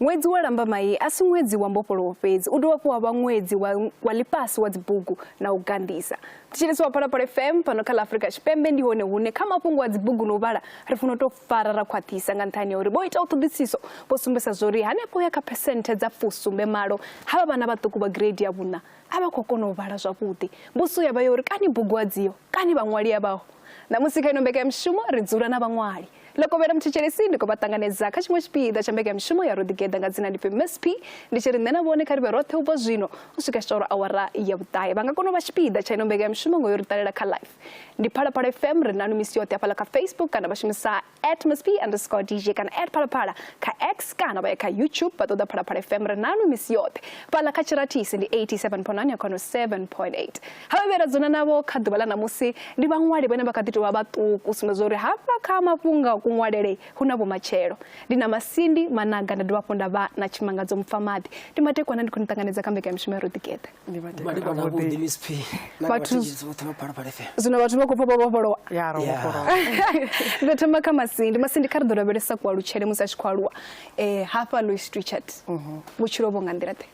Ṅwedzi wa Lambamai a si ṅwedzi wa mbofholowo fhedzi, u dovha hafhu wa vha ṅwedzi wa, wa ḽifhasi wa dzibugu na u ganḓisa. Thetshelesi wa Phalaphala FM fhano kha ḽa Afrika Tshipembe ndi hone hune kha mafhungo a dzibugu na u vhala ri funa u tou fara ra khwaṱhisa nga nṱhani ha uri vho itaho ṱhoḓisiso vho sumbedzisa zwori hanefho ya kha phesenthe dza fusumbe malo havha vhana vhaṱuku vha gireidi ya vhuṋa a vha khou kona u vhala zwavhuḓi. Mbudziso ya vha ya uri kani bugu a dziho? Kani vhaṅwali avhaho? Ṋamusi kha ino mbekanyamushumo ri dzula na vhaṅwali. Ḽokovhela Muthetshelesin ndi khou vha ṱanganedza kha tshiṅwe tshipiḓa tsha mbekanyamushumo ya Ro Ḓigeḓa nga dzina ndi pfi MSP, ndi tshi ri nṋe na vhone kha ri vhe roṱhe u bva zwino u swika tshi tou ri awara ya vhuṱahe. Vha nga kona u vha tshipiḓa tsha ino mbekanyamushumo nga u yo ri ṱalela kha live. Ndi Phalaphala FM, ri nanu misi yoṱhe hafhaḽa kha Facebook kana vha shumisa At must be underscore DJ kana at phalaphala kha x kana vha ya kha youtube vha ṱoḓa phalaphala fm ri nanu misi yoṱhe fhaḽa kha tshiratisi ndi 87.9 ya khono 7.8 ha vha vhera dzona navho kha ḓuvha ḽa ṋamusi ndi vhaṅwali vhane vha kha ḓi tou vha vhaṱuku sumbedza zwa uri hafha kha mafhungo a kuṅwalele hu na vhumatshelo ndi na masindi managa nda dovha hafhu nda vha na tshimangadzo mupfamaḓi ndi matekwana ndi khou ni ṱanganedza kha mbekanyamishumo ya ro ḓigeḓa ndi vha tevhela malivhana vhuḓi vhuḓi miss p na Vhathu- vhatshitshisi vhoṱhe vha phalaphala fm zwino vhathu vha khou pfa vha vhofholowa ya ro Yeah. vhofholowa ndo thoma kha masindi masindi kha ri ḓo lavhelesa kualutshele musi a tshi khou aluwa um hafha lois richard vhutshilo vho nga nḓila ḓe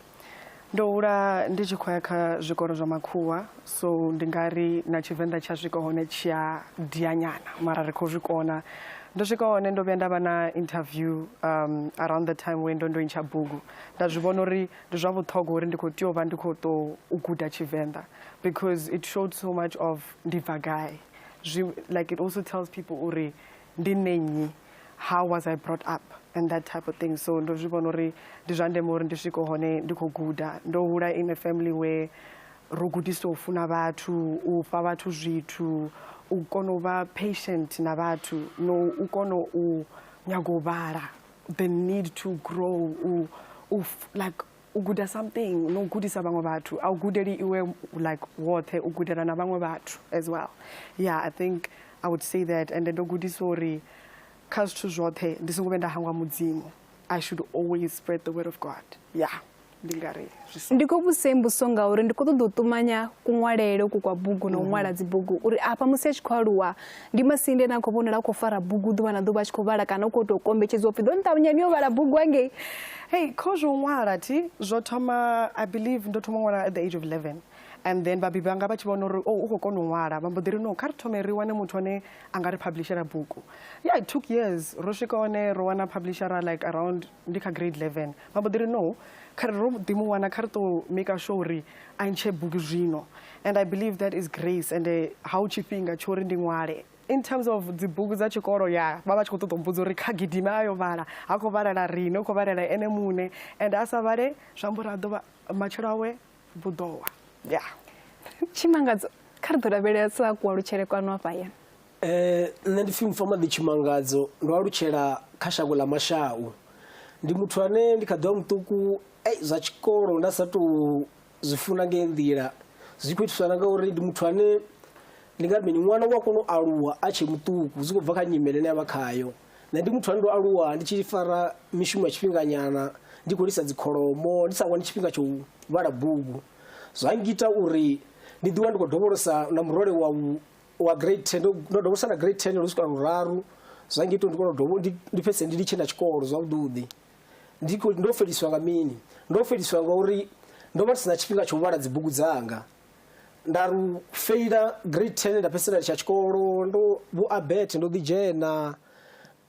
ndo hula ndi tshi khou ya kha zwikolo zwa makhuwa so ndi nga ri na tshivenḓa tsha swika hone tshi a dianyana mara ri khou zwi kona ndo swika hone ndo vhuya nda vha na interview um, around the time we ndo ndo intsha bugu nda zwi vhona uri Ndi zwa vhuṱhogwa uri ndi khou tea u vha ndi khou ṱo u guda Tshivenḓa because it showed so much of ndi bva gai. Zwi like it also tells people uri ndi nṋe nnyi, how was I brought up and that type of thing. So ndo zwi vhona uri ndi zwa ndeme uri ndi swike hone ndi khou guda. Ndo hula in a family where ro gudiswa u funa vhathu, u fha vhathu zwithu, u kona u vha patient na vhathu no u kona u nyaga u vhala the need to grow u, u like u guda something no gudisa vhaṅwe vhathu a u gudeli iwe like woṱhe u gudela na vhaṅwe vhathu as well yeah i think i would say that and ndo gudisa uri kha zwithu zwoṱhe ndi songo vhe nda hangwa mudzimu i should always spread the word of god yeah ndi nga ri ndi khou vhudzisa mbuso ngauri ndi khou ṱoḓa u ṱumanya kuṅwalele uku kwa bugu na u ṅwala mhm. dzibugu uri afha musi a tshi khou aluwa ndi masinde ane a khou vhonala a khou fara bugu ḓuvha na ḓuvha a tshi khou vhala kana u khou tou kombetshedzwa upfhi ḓo nṱavhanya ni yo vhala bugu angei hei kho zwo ṅwala thi zwo thoma i believe ndo thoma u ṅwala at the age of 11 and then vhabebi vhanga vha tshi vhona uri o oh, u khou kona u ṅwala vha mbo ḓi ri no kha ri thome ri wane muthu ane a nga ri publishera bugu ya it took years ro swika hone ro wana publishera like around ndi kha grade 11 Vha mbo ḓi ri, No, kha ri ro ḓi mu wana, kha ri tou maker sure uri a ntshe bugu zwino. And I believe that is grace, ende ha hu tshifhinga tsho uri ndi ṅwale. In terms of dzibugu dza tshikolo, ya, vha vha vha tshi khou ṱoḓa u mbudza uri kha gidime a yo vhala. Ha khou vhalela riṋe, u khou vhalela ene muṋe. Ende a sa vhale, zwi amba uri a ḓo vha, matshelo awe vhu ḓo wa. Ya. Tshimangadzo, kha ri ḓo lavhelesa kualutshele kwanu hafha hayani. Eh, nṋe ndi pfi mufamaḓi tshimangadzo ndo alutshela kha shango ḽa mashau ndi muthu ane ndi kha ḓivha muṱuku ei zwa tshikolo nda sa tou zwi funa ngei nḓila zwi khou itiswa na ngauri ndi muthu ane ndi nga mini ṅwana u a kona u aluwa a tshe muṱuku zwi khou bva kha nyimele ine avha khayo nṋe ndi muthu ane ndo aluwa ndi tshi fara mishumo ya tshifhinganyana ndi khou lisa dzikholomo ndi sa wani tshifhinga tsho vhala bugu zwa ngita uri ndi ḓiwa ndi khou dovholosa na murole wa wa grade 10 ndo ndo dovha u sana grade 10 lu swika luraru zwa ngita uri ndi kone u dovha ndi ndi fhedzise ndi litshe na tshikolo zwavhuḓi ndi khou- ndo feliswa nga mini ndo feliswa nga uri ndo vha ndi sina tshifhinga tsha u vhala dzibugu dzanga nda ru feila grade 10 nda fhedzisela litsha tshikolo ndo vho abet ndo ḓi dzhena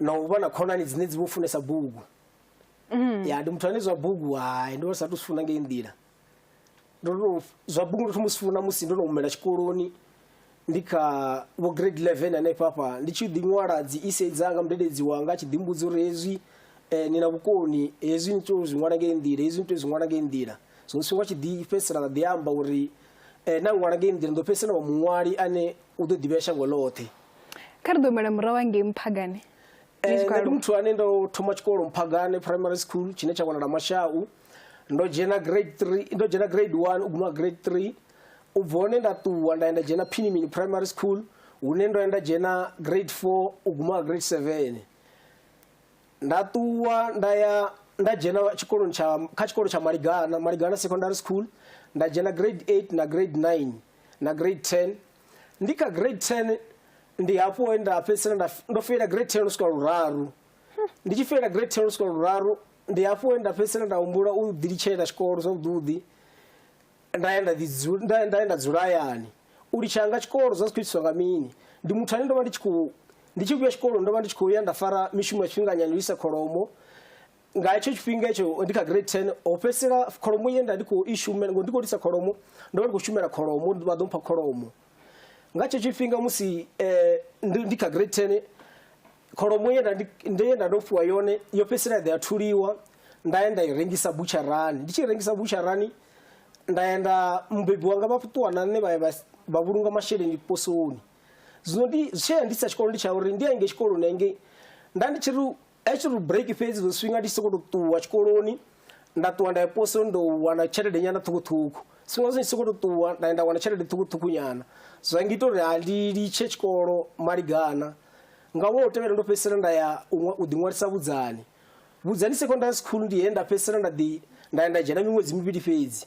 na u vha na khonani dzine dzi vho funesa bugu mm. ya ndi muthu ane zwa bugu hai ndo sa tu funa ngei nḓila ndo zwa bugu ndo thoma sifuna musi ndo no humela tshikoloni ndi kha vho grade 11 hanefha fha ndi tshi ḓi ṅwala dzi ise dzanga mudededzi wanga a tshi ḓi mbudza uri hezwi eh, ni na vhukoni hezwi ni tou zwi ṅwala ngei nḓila hezwi ni tou zwi ṅwala ngei nḓila so sifhinga tshi ḓi fhedzisela ḓa ḓi amba uri eh, na ṅwala ngei nḓila ndo fhedzisela wa muṅwali ane u ḓo ḓivhea shango ḽoṱhe kha ri ḓo humela murahu angei mphagane eh, nṋe ndi muthu ane ndo thoma tshikolo mphagane primary school tshine tsha wanala mashau ndo dzhena grade three ndo dzhena grade one u guma grade three u bva hone nda ṱuwa nda ya nda dzhena phinimini primary school hune ndo ya nda dzhena grade four u guma grade seven nda ṱuwa nda ya nda dzhena tshikoloni tsha kha tshikolo tsha maligana maligana secondary school nda dzhena grade eight na grade nine na grade ten ndi kha grade 10 ndi hafho he nda fhedzisela nda f- ndo feila grade 10 swika luraru ndi tshi feila grade 10 swika luraru ndi hafho he nda fhedzisela nda humbula u ḓilitshela tshikolo zwavhuḓi nda ya nda ḓi dzu- nda nda ya nda dzula hayani u litsha nga tshikolo zwa zwi khou itiswa nga mini ndi muthu ane ndo vha ndi tshi khou ndi tshi vhuya tshikoloni ndo vha ndi tshi khou ya nda fara mishumo ya tshifhinganyana u isa kholomo nga hetsho tshifhinga etsho ndi kha grade 10 ho fhedzisela kholomo ye nda ndi khou i shumela ngo ndi khou lisa kholomo ndo vha ndi khou shumela kholomo uri vha ḓo mpha kholomo nga tshetsho tshifhinga musi eh, ndi ndi kha grade 10 kholomo ye nda ndi- ndi- ye nda ndo fhiwa yone yo fhedzisela ya ḓa ya thuliwa nda ya nda i rengisa butsharani ndi tshi i rengisa butsharani nda ya nda mubebi wanga vha ṱuwa na nṋe vha ya vha s- vha vhulunga masheleni posoni zwino ndi tshee ndi sa tshikolo ndi tsha uri ndi ya ngei tshikoloni engei nda ndi tshi ri A tshi ri break fhedzi zwo swinga ndi tshi sokou tou ṱuwa tshikoloni nda ṱuwa nda ya posoni ndo wana tshelede nyana ṱhukhuṱhukhu zwifhinga zwi tshi sokou tou ṱuwa nda nda wana tshelede ṱhukhuṱhukhu nyana zwa ngita uri ha ndi litshe tshikolo maligana nga ṅwaha u tevhela ndo fhedzisela nda ya u ḓiṅwalisa vhudzani vhudzani secondary school ndi he nda fhedzisela nda ḓi nda ya nda dzhena miṅwedzi mivhili fhedzi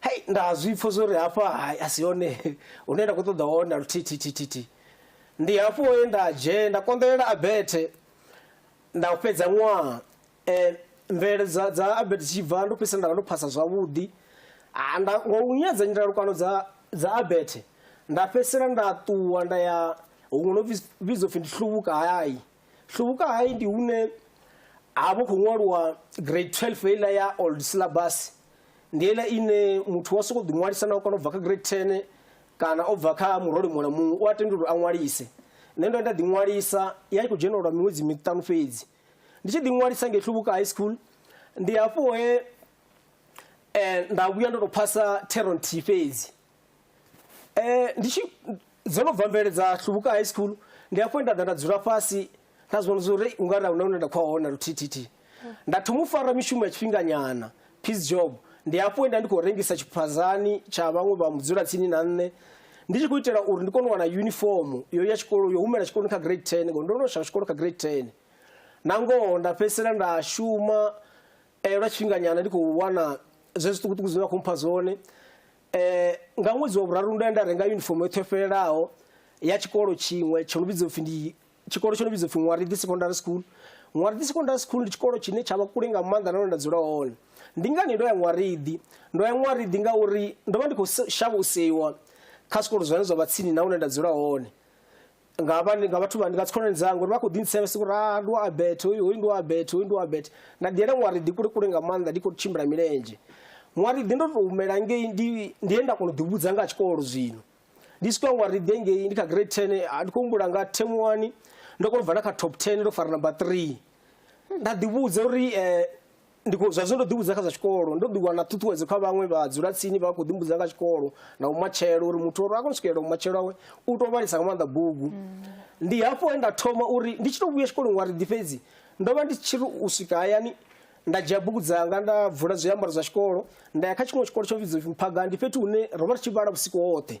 Hei nda zwi pfha zwo ri hafha hai a si hone hune nda khou ṱoḓa hone na luthithithithithi ndi hafho he nda dzhena nda konḓelela abethe nda fhedza ṅwaha um mvelelo dza dza abethe tshi bva ndo fhedzisela nda vha ndo phasa zwavhuḓi ha nda ngo u nyadza nyandalukano dza dza abethe nda fhedzisela nda ṱuwa nda ya huṅwe no vhidzwa upfhi ndi hluvhuka hai Hlubuka High ndi hune ha vho khou ṅwaliwa grade 12 heiḽa ya old syllabus ndi heiḽa ine muthu wa sokou ḓiṅwalisa na u kana u bva kha grade 10 kana o bva kha murole muṅwe na muṅwe u a tenda uri a ṅwalise nṋe ndo nda ḓiṅwalisa ya i khou dzhena lwa miṅwedzi miṱanu fhedzi ndi tshi ḓiṅwalisa ngei hlubuka high school ndi hafho he um nda vhuya ndo tou phasa theron t fhedzi ndi tshi dzo no bva mvelele dza Hlubuka High School ndi afho nda ḓa nda dzula fhasi nda zwi vhona zwa uri u nga ri a huna hune nda khou ya hone luthithithihi nda thoma u fara mishumo ya tshifhinganyana piece job ndi afho nda ndi khou rengisa tshiphazani tsha vhaṅwe vha mudzula tsini na nṋe ndi tshi khou itela uri ndi kone u wana uniform yo ya tshikolo yo humela tshikoloni kha grade 10 ngori ndo no shaya tshikolo kha grade 10 na ngoho nda fhedzisela nda shuma eh, lwa tshifhinganyana ndi khou wana zwe zwiṱukuṱuku zwine vha khou mpha zwone Eh, nga ṅwedzi wa vhuraru ndo ya nda renga yunifomo yo ṱhofhelelaho ya tshikolo tshiṅwe tsho no vhidzwa upfi ndi tshikolo tsho no vhidzwa upfi ṅwariḓi secondary school ṅwariḓi secondary school ndi tshikolo tshine tsha vha kule nga maanḓa nahone nda dzula hone ndi ngani ndo ya ṅwariḓi ndo ya ṅwariḓi ngauri ndo vha ndi khou shavha u seiwa kha zwikolo zwine zwa vha tsini na hune nda dzula hone nga vha nga vhathu vha nga dzikhonani dzanga uri vha khou ḓintsevhe siku ra ndi wa abet hoyu hoyu ndi wa abet hoyu ndi wa abet nda ḓiyela ṅwari ḓi kule kule nga maanḓa ndi khou tshimbila milenzhe ṅwari ḓi ndo to humela ngei ndi ndi ye nda kona u ḓivhudza nga tshikolo zwino ndi swika ṅwari ḓi ngei ndi kha grade 10 ah, ndi khou humbula nga term 1 ndo kona u bva na kha top 10 ndo fara number 3 nda ḓivhudza uri eh, ndi khou- zwa zwino ndo ḓivhudza kha zwa tshikolo ndo ḓi wana ṱhuṱhuwedzo kha vhaṅwe vha dzula tsini vha khou ḓimbudza nga tshikolo na umatshelo uri muthu uri a kone u swikelela umatshelo awe u tou vhalisa nga maanḓa bugu ndi hafho he nda thoma uri ndi tshi tou vhuya tshikoloni wari ḓi fhedzi ndo vha ndi tshi ri u swika hayani nda dzhia bugu dzanga nda bvula zwiambaro zwa tshikolo nda ya kha tshiṅwe tshikolo tsho vhidzwa upfi mphaga ndi fhethu hune ro vha ri tshi vhala vhusiku hoṱhe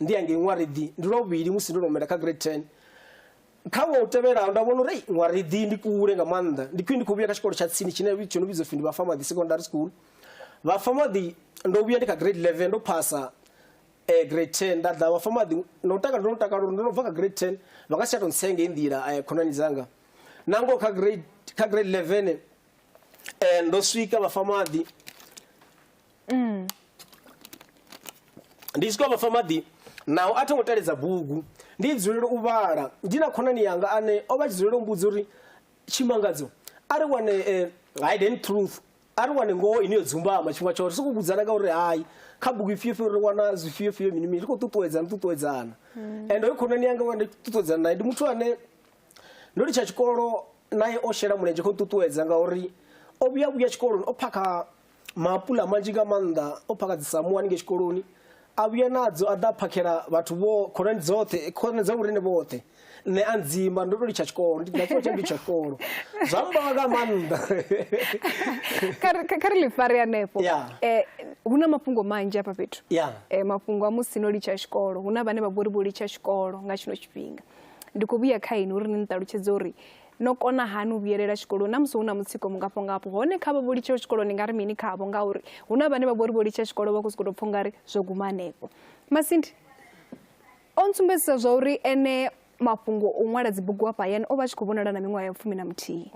ndi ya ngei ṅwariḓi ndi lwa vhuvhili musi ndo nomela kha grade ten kha ṅwaha u tevhelaho nda vhona uri ei ṅwariḓi ndi kule nga maanḓa ndi khwine ndi khou vhuya kha tshikolo tsha tsini tshine tsho no vhidzwa pfhi ndi vhafamaḓi secondary school vhafamaḓi ndo vhuya ndi kha grade eleven ndo phasa eh, grade ten nda ḓa vhafamaḓi no takala ndo no takala uri ndo no bva kha grade ten vha nga si tsha tou ntsenge i nḓila eh, khonani dzanga nangoho kha grade kha grade eleven eh, ndo swika vhafamaḓi ndi tshi tou vhafa maḓi naho a tho ngo teledza bugu ndi dzulela u vhala ndi na khonani yanga ane o vha tshi dzulela u mbudza uri tshimangadzo a ri wane eh, hidden truth a ri wane ngoho ine yo dzumbama tshifhinga tshoṱhe sokou vhudzana nga uri hayi kha bugu ifhio fhio ri wana zwifhio fhio mini mini ri khou ṱuṱuwedzana ṱuṱuwedzana and hoyo khonani yanga wa ndi ṱuṱuwedzana naye ndi muthu ane ndo litsha tshikolo naye o shela mulenzhe kho nṱuṱuwedza ngauri o vhuya vhuya tshikoloni o phakha Maapuḽa manzhi nga maanḓa o phakha dzi samuwa haningei tshikoloni a vhuya nadzo a ḓa a phakhela vhathu vho khonani dzoṱhe khonani dza vhorine vhoṱhe nṋe a ndzimba ndo to litsha tshikolo ndi na tshifhinga tsha ndi tsha tshikolo zwa mbawa nga maanḓa kha ri ḽifari hanefho eh, hu na mafhungo manzhi afha fhethu eh, mafhungo a musi no litsha tshikolo hu na vhane vha vhori vho litsha tshikolo nga tshino tshifhinga ndi khou vhuya kha ini uri ni ni ṱalutshedze uri No kona hani u vhuyelela tshikoloni na musi hu na mutsiko mungafho ngafho? Hone kha vha vho litshaho tshikoloni ni nga ri mini khavho? Ngauri hu na vhane vha vho ri vho litsha tshikolo vha khou sokou tou pfha ungari zwo guma hanefho. Masindi o ntsumbedzisa zwa uri ene mafhungo o ṅwala dzibugu hafha hayani o vha a tshi khou vhonala na miṅwaha ya fumi na muthihi.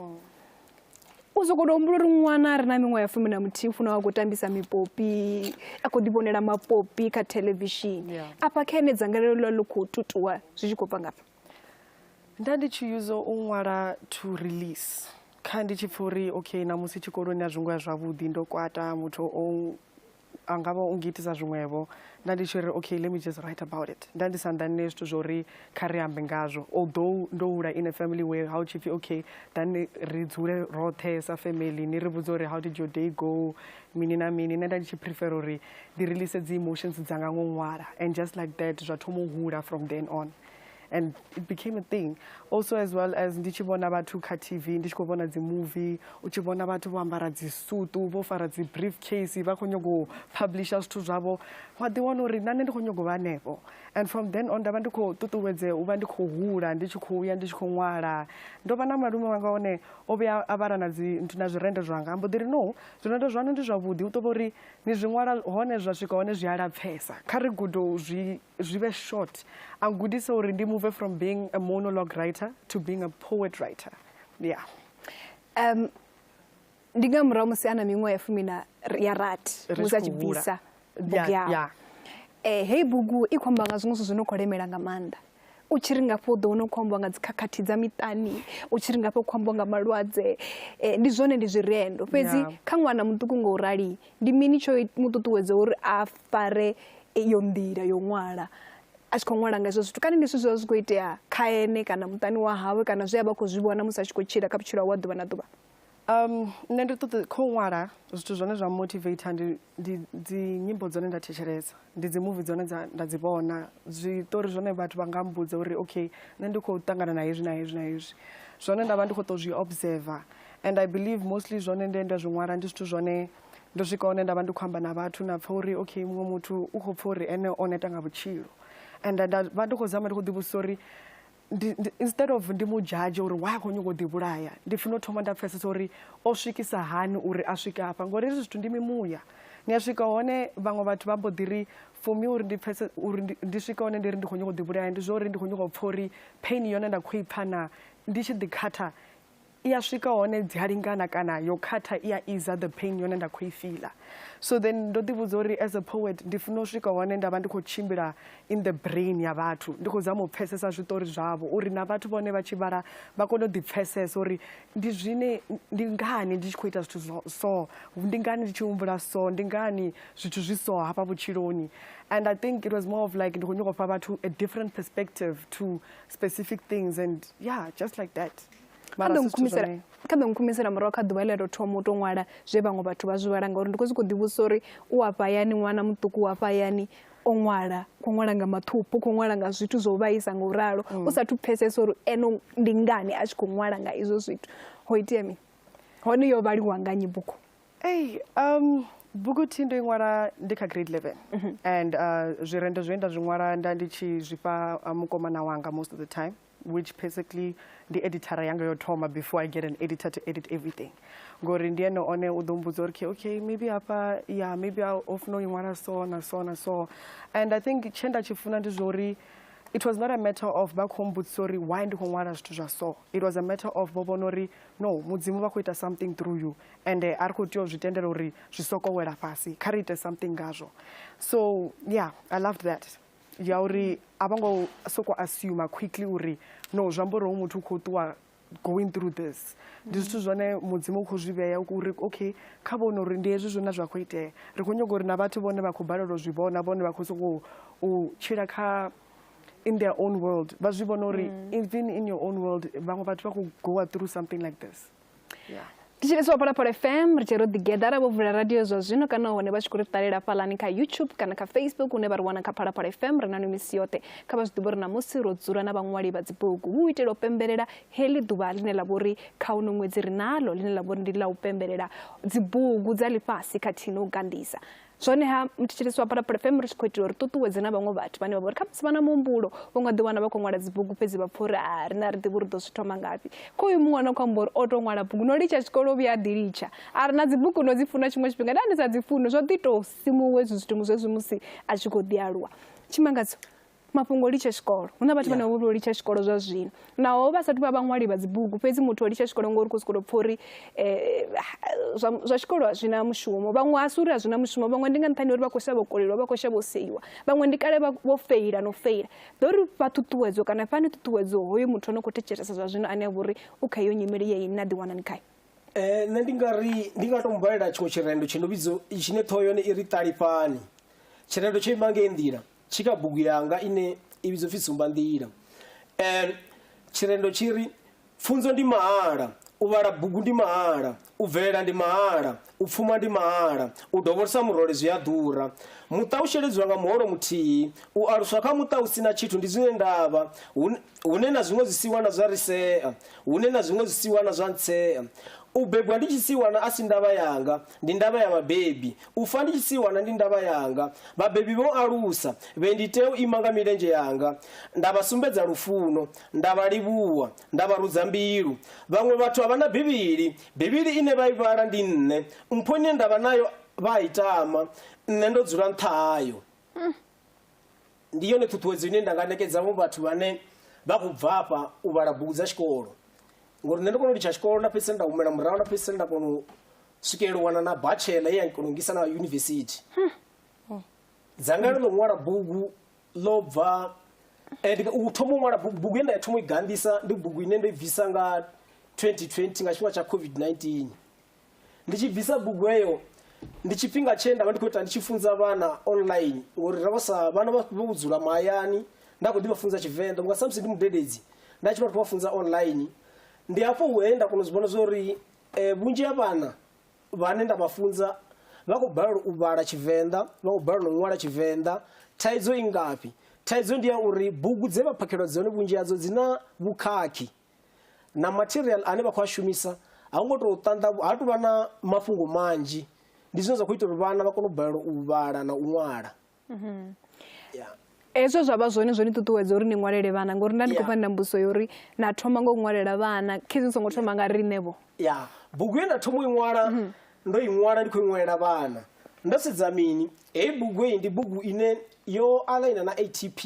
U sokou tou humbula uri ṅwana a re na miṅwaha ya fumi na muthihi u funa a khou tambisa mipopi a khou ḓivhonela mapopi kha theḽevishini afha kha ene dzangalelo ḽa ḽi khou tutuwa zwi tshi khou bva ngafha. nda ndi tshi yuza u ṅwala to release kha ndi tshi pfha uri okay namusi tshikoloni a zwi ngo ya zwavhuḓi ndo kwata muthu o a nga vha u ngitisa zwiṅwevho nda ndi tshi ri okay let me just write about it nda ndi sa nḓanine zwithu zwo uri kha ri ambe ngazwo although ndo hula in a family where how tshi pfhi okay dani ri dzule roṱhe sa family ni ri vhudza uri how did your day go mini na mini nṋe nda ndi tshi prefer uri ndi release dzi emotions dzanga ngo ṅwala and just like that zwa thoma u hula from then on and it became a thing also as well as ndi tshi vhona vhathu kha tv ndi tshi khou vhona dzimovie u tshi vhona vhathu vho ambara dzisutu vho fara dzi-brief case vha khou nyago u publisha zwithu zwavho wa ḓiwana uri na nṋe ndi khou nyago vha hanefho and from then on nda vha ndi khou ṱuṱuwedzea u vha ndi khou hula ndi tshi khou ya ndi tshi khou ṅwala ndo vha na malume wanga one o vhuya a vhala na na zwirendo zwanga ambo ḓiri no zwirendo zwanu ndi zwavhuḓi u ṱo vha uri ni zwi ṅwala hone zwa swika hone zwi a lapfesa kha ri gudo zwi zwi vhe short a gudisa uri ndi move from being a monologue writer to being a poet writer yeah um ndi nga murahu musi ana miṅwaha ya fumi na ya rati musi a tshi bvisa bugu yawe eh heyi bugu i khou amba nga zwiṅwe zwithu zwi no khou lemela nga maanḓa u tshi ri ngafho u ḓo wana u khou ambiwa nga dzikhakhathi dza miṱani u tshi ri ngafho u khou ambiwa nga malwadze eh, ndi zwone ndi zwirendo fhedzi kha ṅwana muṱuku nga u rali ndi mini tsho mu ṱuṱuwedza uri a fare iyo nḓila yo ṅwala a tshi khou ṅwala nga hezwo zwithu kana ndi zwithu zwi vha zwi khou itea kha ene kana muṱani wa hawe kana zwe a vha khou zwi vhona musi a tshi khou tshila kha vhutshilo hawe wa ḓuvha na ḓuvha um nṋe ndi ṱoḓa kho ṅwala zwithu zwone zwa motivate ndi ndi dzi nyimbo dzone nda thetshelesa ndi dzi movie dzone dza nda dzi vhona zwiṱori zwone vhathu vha nga mbudza uri okay nṋe ndi khou ṱangana na hezwi na hezwi na hezwi zwone nda vha ndi khou tou zwi observer and i believe mostly zwone nde nda zwi ṅwala ndi zwithu zwone ndo swika hone nda vha ndi khou amba na vhathu na pfa uri okay muṅwe muthu u khou pfa uri ene o neta nga vhutshilo and nda vha ndi khou zama ndi khou ḓivhudzisa uri instead of ndi mu judge uri why a khou nyanga u ḓivhulaya ndi funa u thoma nda pfesesa uri o swikisa hani uri a swike afha ngori hezwi zwithu ndi mimuya ni a swika hone vhaṅwe vhathu vha mbo ḓi ri for me uri ndi pfese uri ndi swika hone ndi ri ndi khou nyanga u ḓivhulaya ndi zwa uri ndi khou nyanga u pfa uri pain yone nda khou i pfha na ndi tshi ḓikhatha i a swika hone dzi a lingana kana yo khatha i a iza the pain yone nda khou i fiḽa so then ndo ḓivhudza uri as a poet ndi funa u swika hone nda vha ndi khou tshimbila in the brain ya vhathu ndi khou zama u pfhesesa zwiṱori zwavho uri na vhathu vhone vha tshi vhala vha kone u ḓipfhesesa uri ndi zwine ndi ngani ndi tshi khou ita zwithu so ndi ngani ndi tshi humbula so ndi ngani zwithu zwi so hafha vhutshiloni and i think it was more of like ndi khou nyoko fha vhathu a different perspective to specific things and yeah just like that kambe ngikhumisela murahu kha ḓuvha ḽa tou thoma u tou ṅwala zwe vhaṅwe vhathu vha zwi vhala ngauri ndi khou zwi khou ḓivhusa uri u afha hayani ṅwana muṱuku u afha hayani o ṅwala khou ṅwala nga mathuphu khou ṅwala nga zwithu zwo vhaisa nga u ralo mm. u sathu pfesesa uri eno ndi ngani a tshi khou ṅwala nga izwo zwithu ho itea mini hone yo vhaliwa nga nyi bugu Ei, um, buguthi ndo i ṅwala ndi kha grade 11 mm -hmm. and uh, zwirendo zwe nda zwi ṅwala nda ndi tshi zwifha uh, mukomana wanga most of the time which basically ndi editara yanga yo thoma before i get an editor to edit everything ngori ndi ene one u ḓo mbudza uri okay maybe hafha ya maybe o funa u i ṅwala so na so na so and i think tshe nda tshi funa ndi zwauri it was not a matter of vha khou mbudzisa uri why ndi khou ṅwala zwithu zwa so it was a matter of vho vhona uri no mudzimu vha khou ita something through you ende a ri khou tea u zwi tendela uri zwi soko wela fhasi kha ri ite something ngazwo so yeah i loved that ya uri a vho ngo soko assume quickly uri no zwi amba uri hoyu muthu u khou ṱuwa going through this ndi zwithu zwone mudzimu u khou zwi vhea uri okay kha vhone uri ndi hezwi zwine zwa khou itea ri khou nyaga uri na vhathu vhone vha khou balelwa zwi vhona vhone vha khou sokou u tshila kha in their own world vha zwi vhona uri mm. even in your own world vhaṅwe vhathu vha khou goa through something like this thetshelesi wa phalaphala fm ri tshi ro ḓigeḓara vho vula radio zwa zwino kana hone vha tshi khou ri ṱalela fhalani kha youtube kana kha facebook hune vha ri wana kha phalaphala fm ri na no misi yoṱhe kha vha zwi ḓivha uri namusi ro dzula na vhaṅwali vha dzibugu hu u itela u pembelela heḽi ḓuvha ḽine ḽa vho ri kha uno ṅwedzi ri nalo ḽine ḽa vho ri ndi ḽa u pembelela dzibugu dza ḽifhasi khathihi no u ganḓisa Zwoneha, muthetshelesi wa Phalaphala FM ri tshi khou itela uri ṱuṱuwedze na vhaṅwe vhathu vhane vha vha uri kha musi vha na muhumbulo vho nga ḓiwana vha khou ṅwala dzibugu fhedzi vha pfha uri a ri na ri ḓivhi uri ḓo zwi thoma ngafhi kho uyu muṅwe no khou amba uri o tou ṅwala bugu no litsha tshikolo o vhuya a ḓi litsha a ri na dzibugu no dzi funa tshiṅwe tshifhinga nda ndi sa dzi funi zwo ḓi tou simuwe hezwi zwithu mu zwezwi musi a tshi khou ḓi aluwa tshimangadzo mafhungo o litsha tshikolo hu na vhathu vhane vha vha vho litsha tshikolo zwa zwino naho vha sathu vha vhaṅwali vha dzibugu fhedzi muthu o litsha tshikolo ngori u khou sokou tou pfha uri um zwa tshikolo a zwi na mushumo vhaṅwe a si uri a zwi na mushumo vhaṅwe ndi nga nṱhani uri vha khou shavha u koleliwa vha khou shavha u seiwa vhaṅwe ndi kale vho feila no feila ḓo ri fha ṱhuṱhuwedzo kana fhani ṱhuṱhuwedzo hoyo muthu ano khou thetshelesa zwa zwino ane a vha uri u kha iyo nyimele ye ine a ḓiwanani khayo um nṋe ndi nga ri ndi nga tou mubvalela tshiṅwe tshirendo tshi no vhidzo tshine ṱhoho yone i ri ṱalifhani tshirendo tsho ima ngei nḓila tshika bugu yanga ine i vhidzwa pfi tsumbanḓila um tshirendo tshi ri pfunzo ndi mahala u vhala bugu ndi mahala u bvelela ndi mahala u pfuma ndi mahala u dovholosa murole zwi a ḓura muṱa u sheledziwa nga muholo muthihi u aluswa kha muṱa u si na tshithu ndi zwine ndavha Hun- hune na zwiṅwe zwisiwana zwa ri sea hune na zwiṅwe zwisiwana zwa ntsea u bebwa ndi tshisiwana a si ndavha yanga Ndi ndavha ya vhabebi. U fa ndi tshi si wana ndi ndavha yanga. Vhabebi vho alusa vhe ndi tea u ima nga milenzhe yanga nda vha sumbedza lufuno, nda vha livhuwa, nda vha rudza mbilu. Vhaṅwe vhathu a vha na Bivhili. Bivhili ine vha i vhala ndi nṋe. Mpho ine nda vha nayo vha a i tama. Nṋe ndo dzula nṱha hayo. ndi yone ṱhuṱhuwedzo ine nda nga nekedza vho vhathu vhane vha khou bva afha u vhala bugu dza tshikolo ngori nṋe ndo kona u litsha tshikolo nda fhedzisela nda humela murahu nda fhedzisela nda kona u swikelela u wana na bachelor ye ya kona u ngisa na yunivesithi dzangalelo ḽo ṅwala bugu ḽo bva and u thoma u ṅwala bugu bugu ye nda ya thoma u i ganḓisa ndi bugu ine ndo i bvisa nga 2020 nga tshifhinga tsha covid-19 Ndi tshi bvisa bugu heyo ndi tshifhinga tshe nda vha ndi khou ita ndi tshi funza vhana online ngori ra vha sa vhana vha vho vho dzula mahayani nda kho ḓi vha funza tshivenḓa vhunga samusi ndi mudededzi nda tshi vha khou vha funza online ndi hafho he nda kona u zwi vhona zwori eh, vhunzhi ha vhana vhane nda vha funza vha khou balelwa u vhala tshivenḓa vha khou balelwa u ṅwala tshivenḓa thaidzo i ngafhi thaidzo ndi ya uri bugu dze vha phakhelwa dzone vhunzhi hadzo dzi na vhukhakhi na material ane vha khou a shumisa ha ngo tou ṱanḓa ha tou vha na mafhungo manzhi ndi zwine zwa khou ita uri vhana vha kone u balelwa u vhala na u ṅwala mhm. hezwo zwa vha zwone zwo ni ṱuṱuwedza uri ni ṅwalele vhana ngori nda ndi khou pfa na mbuso ya uri na thoma nga u ṅwalela vhana khezi ni songo thoma nga riṋevho ya bugu ye nda thoma u i ṅwala mhm. ndo i ṅwala ndi khou i ṅwalela vhana ndo sedza mini heyi bugu heyi ndi bugu ine yo alaina na atp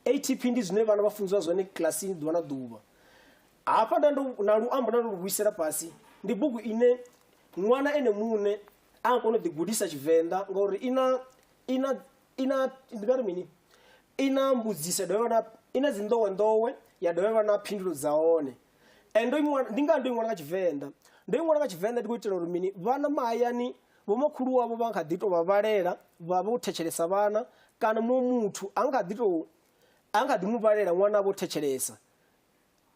ATP ndi zwine vhana vha funziwa zwone kilasini ḓuvha na ḓuvha. Hafha nda ndo na luambo nda ndo lu vhuisela fhasi ndi bugu ine ṅwana ene muṋe a nga kona u ḓigudisa Tshivenḓa ngauri i na i na i na ndi nga ri mini i na mbudziso dovha na i na dzi nḓowenḓowe ya dovha ya vha na phindulo dza hone and ndo ndi nga ndo i ṅwala nga Tshivenḓa ndo i ṅwala nga Tshivenḓa ndi khou itela uri mini vhana mahayani Vhomakhulu wavho vha kha ḓi tou vha vhalela vha vho thetshelesa vhana kana muṅwe muthu a kha ḓi tou a kha ḓi mu vhalela ṅwana vho thetshelesa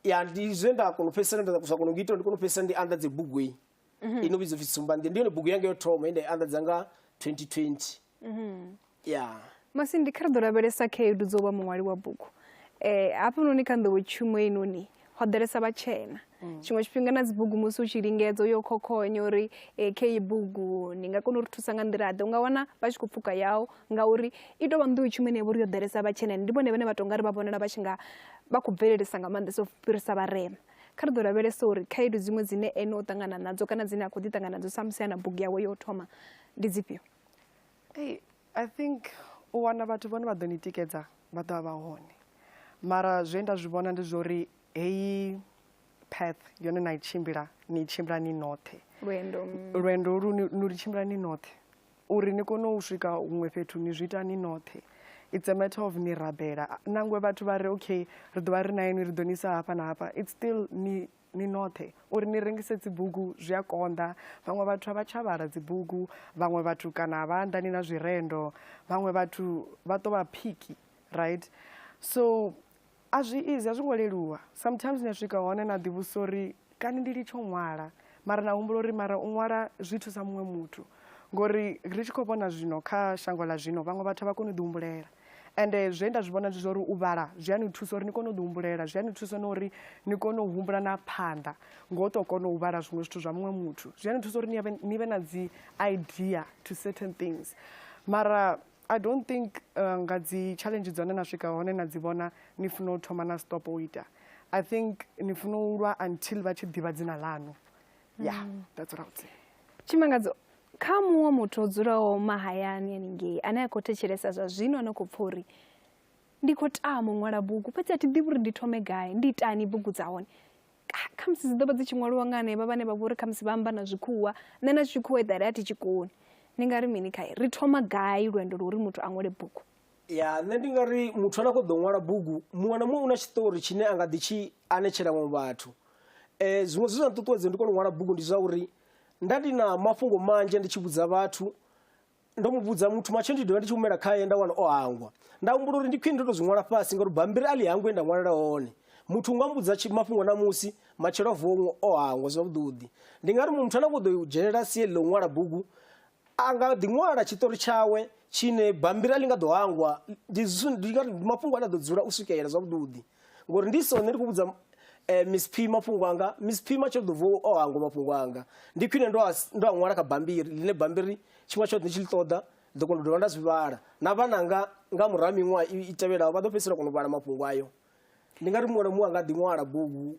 ya ndi zwe nda kona u fhedzisela nda sa kona u ita ndi kona u fhedzisela ndi anḓadze bugu iyi mhm. ino vhidzwa pfhi tsumbandi ndi yone bugu yanga yo thoma ye nda i anḓadza nga 2020 Mhm. ya masindi kha ri ḓo lavhelesa khaedu dzo vha muṅwali wa bugu um hafhanoni kha nḓowetshumo inoni ho ḓalesa vhatshena tshiṅwe tshifhinga na dzibugu musi u tshi lingedza uyo khokhonya uri um kha iyi bugu ndi nga kona u ri thusa nga nḓila ḓe u nga wana vha tshi khou pfuka yau ngauri i tou vha nḓowetshumo ine ya vha uri yo ḓalesa vhatshena ndi vhone vhane vha tou nga ri vha vhonala vha tshi nga vha khou bvelelesa nga maanḓesa u fhirisa vharema kha ri ḓo lavhelesa uri khaedu dziṅwe dzine ene o ṱangana nadzo kana dzine a khou ḓi ṱangana nadzo samusi a na bugu yawe yo u thoma ndi dzifhio Hey, I think u wana vhathu vhone vha ḓo ni tikedza vha ḓo vha hone mara zwe nda zwi vhona ndi zwori heyi path yone na i tshimbila ni tshimbila ni noṱhe lwendo mm. lwendo lu ni lu tshimbila ni noṱhe uri ni kone u swika huṅwe fhethu ni zwi ita ni noṱhe it's a matter of ni rabela nangwe vhathu vha ri okay ri ḓo vha ri na inwi ri ḓo ni isa hafha na hafha it's still ni ni noṱhe uri ni rengise dzibugu zwi a konḓa vhaṅwe vhathu a vha tsha vhala dzibugu vhaṅwe vhathu kana a vha anḓani na zwirendo vhaṅwe vhathu vha ṱo vha phiki right so a zwi izi a zwi ngo leluwa sometimes ni a swika hone na ḓivhusa uri kani ndi litsho ṅwala mara na humbula uri mara u ṅwala zwi thusa muṅwe muthu ngori ri tshi khou vhona zwino kha shango ḽa zwino vhaṅwe vhathu a vha koni u ḓi humbulela ende zwe nda zwi vhona ndi zwa uri u vhala zwi a ni thusa uri ni kone u ḓi humbulela zwi a ni thusa na uri ni kone u humbula na phanḓa ngo to kona u vhala zwiṅwe zwithu zwa muṅwe muthu zwi a ni thusa uri ni vhe na dzi idea to certain things mara i don't think uh, nga dzi challenge dzone na swika hone na dzi vhona ni funa u thoma na stop u ita i think ni funa u lwa until vha tshi ḓivha dzina ḽanu ya mm. that's what I would say tshimangadzo kha muṅwe muthu o dzulaho mahayani haningei ane a khou thetshelesa zwa zwino ano khou pfa uri ndi khou tama u ṅwala bugu fhedzi a thi ḓivhi uri ndi thome gai ndi itani bugu dza hone khamusi dzi ḓo vha dzi tshi ṅwaliwa nga hanevha vhane vha vhori khamusi vha amba na zwikhuwa nṋe na tshikhuwa eḓale a thi tshi koni ni nga ri mini khae ri thoma gai lwendo lwo uri muthu a ṅwale bugu ya nṋe ndi nga ri muthu ane a khou ḓo ṅwala bugu muṅwe na muṅwe u na tshiṱori tshine a nga ḓi tshi anetshela vhaṅwe vhathu eh, zwiṅwe zwi zwa nṱuṱuwedza ndi kone u ṅwala bugu ndi zwa uri nda ndi na mafhungo manzhi ndi tshi vhudza vhathu ndo mu vhudza muthu matshelo ndi dovha ndi tshi humela khaye nda wana o hangwa nda humbula uri ndi khwine ndo to zwi ṅwala fhasi ngauri bambiri a ḽi hangwe nda ṅwalela hone muthu unga mbudza tshi- mafhungo namusi matshelo a vuwa o hangwa zwavhuḓuḓi ndi nga ri muṅwe muthu ane a khou ḓo dzhenelela sie ḽo ṅwala bugu a nga ḓi ṅwala tshiṱori tshawe tshine bammbiri a ḽi nga ḓo hangwa ndi mafhungo ane a ḓo dzula u swikelela zwavhuḓi ngori ndi sone ndi khou vhudza eh, miss p mafhungo anga miss p matsho ḓo vuwa o hangwa mafhungo anga ndi khwine ndo a ndo a ṅwala kha bammbiri ḽine bammbiri tshiṅwe tshoṱhe ndi tshi ḽi ṱoḓa ḓo kona u dovha nda zwi vhala na vhananga nga murahu miṅwaha i tevhelaho vha ḓo fhedzisela kona u vhala mafhungo ayo ndi nga ri muṅwe na muṅwe a nga ḓi ṅwala bugu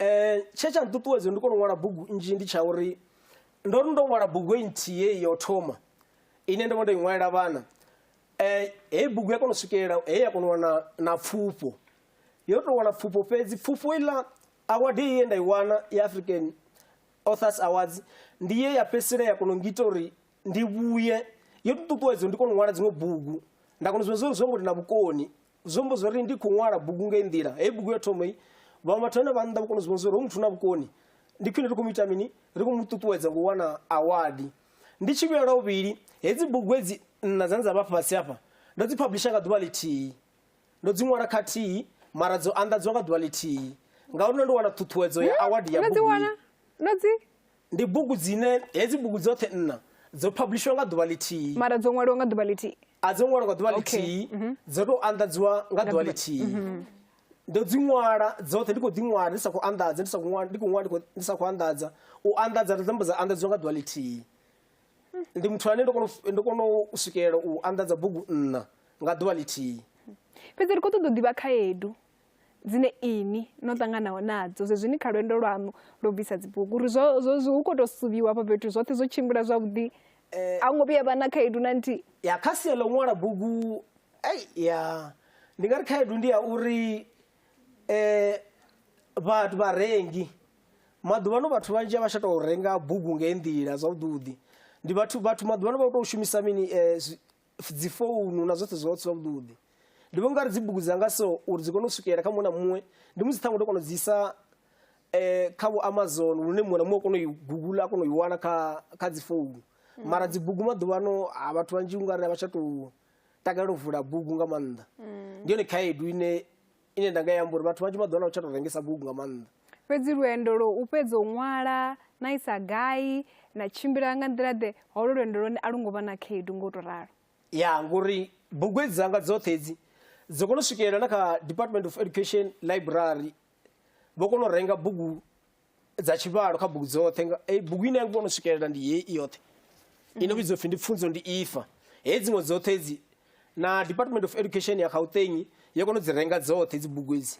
um tshe tsha nṱuṱuwedza ndi kone u ṅwala bugu nnzhi ndi tsha uri ndo ri ndo ṅwala bugu e nthihi yo thoma ine ndo vha ndo i ṅwalela vhana um heyi bugu ya kona u swikelela he ya kona u wana na pfufho yo tou wana pfufho fhedzi pfufho iḽa award ye nda i wana ya african authors awards ndi ye ya fhedzisela ya kona u ngita uri ndi vhuye yo ṱuṱuwedza ndi kona u ṅwala dziṅwe bugu nda kona u zwi zwo ngo ndi na vhukoni zwo mbo zwo ri ndi khou ṅwala bugu nga nḓila heyi bugu yo thoma i vhaṅwe vhathu vhane vha nnḓa vhukoni zwi vhonisa uri muthu na vhukoni ndi khwine ri khou mu ita mini ri khou mu ṱuṱuwedza ngo wana awadi ndi tshi vhuyela vhuvhili hedzi bugu hedzi nṋa dzane dza vha fhasi hafha ndo dzi publisha nga ḓuvha ḽithihi ndo dzi ṅwala khathihi mara dzo anḓadzwa nga ḓuvha ḽithihi ngauri ndo ndi wana ṱhuṱhuwedzo ya awadi ya bugu ndo dzi Ndi bugu dzine hedzi bugu dzoṱhe nṋa dzo phabulishiwa nga ḓuvha ḽithihi. Mara dzo ṅwaliwa nga ḓuvha ḽithihi. A dzo ṅwaliwa nga ḓuvha ḽithihi, mhm. dzo tou anḓadziwa nga ḓuvha ḽithihi. Mhm. Ndo dzi ṅwala dzoṱhe ndi khou ḓi ṅwala ndi sa khou anḓadza ndi sa khou ṅwala ndi khou ṅwala ndi sa khou anḓadza u anḓadza ndo dzamba dza anḓadziwa nga ḓuvha ḽithihi. Ndi muthu ane ndo kono ndo kono u swikelela u anḓadza bugu nṋa nga ḓuvha ḽithihi. Fhedzi ri khou ṱoḓa u ḓivha khaedu. dzine inwi no ṱanganaho nadzo zwezwini kha lwendo lwaṋu lwo bvisa dzibugu uri zwo zwo hu kho to suvhiwa hafha fhethu zwoṱhe zwo tshimbila zwavhuḓi eh, a hu ngo vhuya vha na khaedu na nthihi ya kha sia ḽa u ṅwala bugu ei ya ndi nga ri khaedu ndi ya uri eh vhathu vharengi maḓuvhano vhathu vhanzhi a vha tsha tou renga bugu ngei nḓila zwavhuḓi ndi vhathu vhathu maḓuvhano vha u tou shumisa mini eh, dzi founu na zwoṱhe zwoṱhe zwavhuḓi ndi vhona ungari dzi bugu dzanga so uri dzi kone u swikelela kha muṅwe na muṅwe ndi musi ṱhaṅwe ndo kona u dzi isa um kha vho amazon lune muṅwe na muṅwe a kona u i gugula a kona u i wana kha kha dzi founu mm. mara dzi bugu maḓuvhano a vhathu vhanzhi ungari a vha tsha tou takalela u vula bugu nga maanḓa mm. ndi yone khaedu ine ine nda nga i amba uri vhathu vhanzhi vha ḓo ḽa u tsha tou rengesa bugu nga maanḓa fhedzi lwendo lwo u fhedza u ṅwala na isa gai na tshimbila nga nḓila ḓe holo lwendo lwone a lu ngo vha na khaedu nga u tou ralo ya ngori bugu hedzi dzanga dzoṱhe hedzi dzo kona u swikelela na kha department of education library vho kona u renga bugu dza tshivhalo kha bugu dzoṱhe nga- eh, bugu ine ya ngivhono swikelela ndi hei i yoṱhe ino vhidzwa pfi ndi pfunzo ndi ifa hei dziṅwe dzoṱhe edzi na department of education ya gauteng yo kona u dzi renga dzoṱhe dzi bugu edzi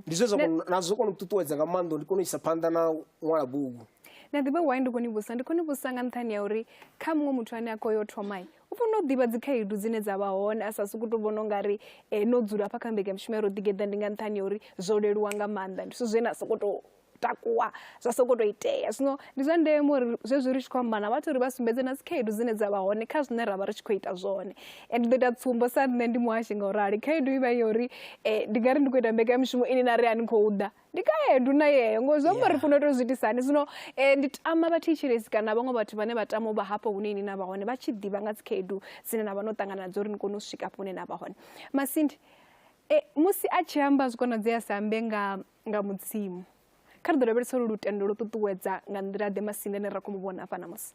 ndi zwe zwa kona- na zwo kona u ṱuṱuwedza nga maanḓa uri ndi kone u isa phanḓa na u ṅwala bugu na ḓivhe why ndi khou ni vhusa ndi khou ni vhusa nga nṱhani ya uri kha muṅwe muthu ane a khou yo thomai U fanela u ḓivha dzikhaedu dzine dza vha hone a sa sokou tou vhona u nga ri eh, no dzula hafha kha mbekanyamushumo ya ro ḓigeḓa ndi nga nṱhani ya uri zwo leluwa nga maanḓa ndi zwithu zwe na sokou tou takuwa zwa sokou tou itea zwino ndi zwa ndeme uri zwezwi ri tshi khou amba na vhathu uri vha sumbedze na dzikhaedu dzine dza vha hone kha zwine ra vha ri tshi khou ita zwone and ndi ḓo ita tsumbo sa nṋe ndi muhashi nga u rali khaedu i vha yo uri eh, ndi nga ri ndi khou ita mbekanyamushumo ine na ri a ni khou ḓa ndi khaedu na yeyo ngo zwi amba uri funa to zwi itisani zwino eh, ndi tama vha thetshelesi kana vhaṅwe vhathu vhane vha tama u vha hafho hune ini na vha hone vha tshi ḓivha nga dzikhaedu dzine na vha no ṱangana nadzo uri ni kone u swika hafho hune na vha hone masindi eh, musi a tshi amba zwi konadzea sa ambe nga, nga mudzimu kha ri ḓo lavhelesa uri lutendo lwo ṱuṱuwedza nga nḓila ḓe masindi ane ra khou mu vhona hafha namusi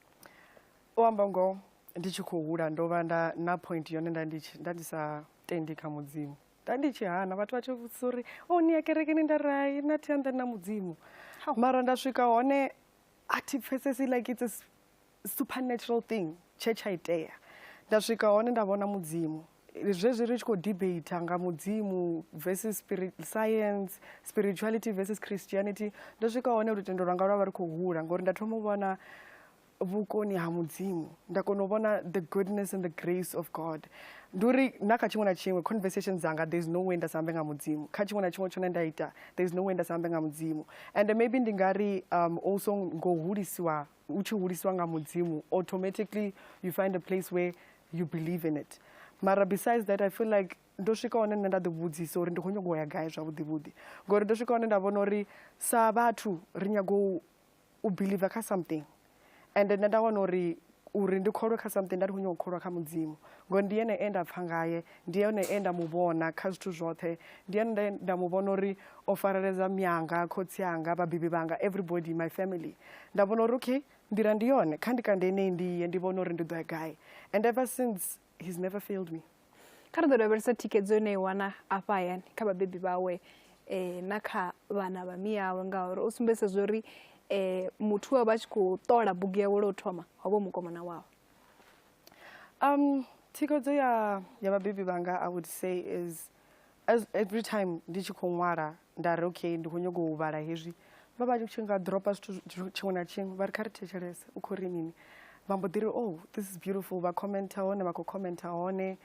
u amba ngoho ndi tshi khou hula ndo vha nda na point yone nda ndi tshi- nda ndi sa tendi kha mudzimu nda ndi tshi hana vhathu vha tshi vhudzisa uri o oh, ni ya kerekeni nda ri hai na thi anḓani na mudzimu mara nda swika hone a thi pfesesi like it's a supernatural thing tshe tsha itea nda swika hone nda vhona mudzimu zwezwi ri tshi khou debate nga mudzimu versus spirit, science spirituality versus christianity ndo swika hone lutendo lwanga lwa vha ri khou hula ngori nda thoma u vhona vhukoni ha mudzimu nda kona u vhona the goodness and the grace of god ndi uri na kha tshiṅwe na tshiṅwe conversation dzanga there is no way nda sa ambe nga mudzimu kha tshiṅwe na tshiṅwe tshone nda ita there is no way nda sa ambe nga mudzimu and maybe ndi nga ri um, also ngo hulisiwa u tshi hulisiwa nga mudzimu automatically you find a place where you believe in it mara besides that i feel like ndo swika hone nṋe nda ḓivhudzisa uri ndi khou nyongo ya gai zwavhuḓivhuḓi ngori ndo swika hone nda vhona uri sa vhathu ri nyago u believer kha something and nṋe nda wana uri uri ndi kholwe kha something nda ndi khou nyanga u kholwa kha mudzimu ngori ndi yene e nda pfha ngaye ndi yone e nda mu vhona kha zwithu zwoṱhe ndi yone nda- nda mu vhona uri o fareledza myanga khotsi anga vhabebi vhanga everybody my family nda vhona uri okay nḓila ndi yone kha ndi kande enei ndi ye ndi vhone uri ndi ḓo ya gai and ever since he's never failed me kha ri ḓo lavhelesa thikhedzo ine i wana afha hayani kha vhabebi vhawe um na kha vhana vha miyawe ngauri o sumbedzisa zwo uri um muthu wa vha tshi khou ṱola bugu yawe lwo thoma ho vha mukomana wawe um thikhedzo ya ya vhabebi vhanga i would say is as every time ndi tshi khou ṅwala nda ri okay ndi khou nyanga u vhala hezwi vha vha tshi nga dropa zwithu tshiṅwe na tshiṅwe vha ri kha ri thetshelese u khou ri mini vha mbo ḓi ri oh this is beautiful vha commenta hone vha khou commenta hone